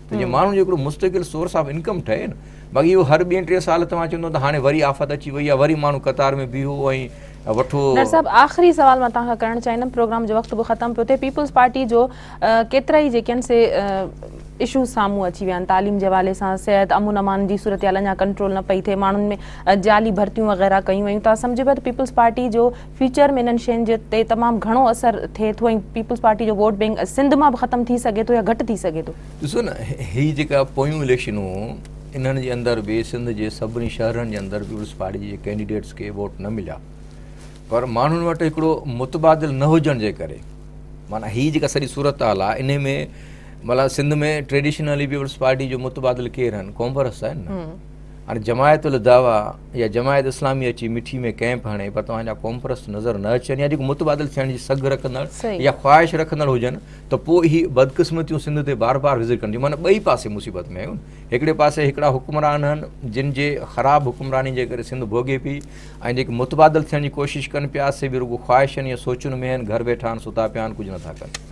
ته جيئن ماڻهن جو هڪڙو مستقل سورس آف انڪم ٺهي نه باقي اهو هر ٻين ٽي سال توهان چوندو ته هاڻي وري آفت اچي وئي آهي وري ماڻهو قطار ۾ بيهو ۽ وٺو ڊاڪٽر صاحب آخري سوال مان توهان کان ڪرڻ چاهيندم پروگرام جو وقت به ختم پيو ٿئي پيپلز پارٽي جو ڪيترائي جيڪي آهن سي اشوز سامهون اچي ويا آهن تعليم جي حوالي سان صحت امن امان جي صورتحال اڃا ڪنٽرول نه پئي ٿئي ماڻهن ۾ جعلي ڀرتيون وغيره ڪيون ويون ته سمجهبو ته پيپلز پارٽي جو فيوچر ۾ انهن شين تي تمام گهڻو اثر ٿئي ٿو ۽ پيپلز پارٽي جو ووٽ بئنڪ سنڌ مان به ختم ٿي سگهي ٿو يا گهٽ ٿي سگهي ٿو. ڏسو نه هي جيڪا پويون اليڪشنون انهن جي اندر به سنڌ جي سڀني شهرن جي اندر پيپلز پارٽي جي ڪينڊيڊيٽس کي ووٽ نه مليا پر ماڻهن وٽ هڪڙو متبادل نه هجڻ جي ڪري معنيٰ هي جيڪا سڄي صورتحال آهي انهي ۾ مطلب سنڌ ۾ ٽريڊيشنلي پيپلز پارٽي جو متبادل ڪير آهن ڪونگرس آهي نه هاڻي جماعت الدعوه يا جماعت اسلامي اچي مٺي ۾ ڪئمپ هڻي پر توهان جا قومپرست نظر نه اچن يا جيڪو متبادل ٿيڻ جي سگهه رکندڙ يا خواهش رکندڙ هجن ته پوء هي بدقسمتيون سنڌ تي بار بار وزر ڪن ٿيون معنيٰ ٻئي پاسي مصيبت ۾ آهيون هڪڙي پاسي هڪڙا حڪمران آهن جن جي خراب حڪمراني جي ڪري سنڌ ڀوڳي پئي ۽ جيڪي متبادل ٿيڻ جي ڪوشش ڪن پيا سي به رڳو خواهشن يا سوچن ۾ آهن گهر ويٺا آهن ستا پيا آهن ڪجهه نٿا ڪن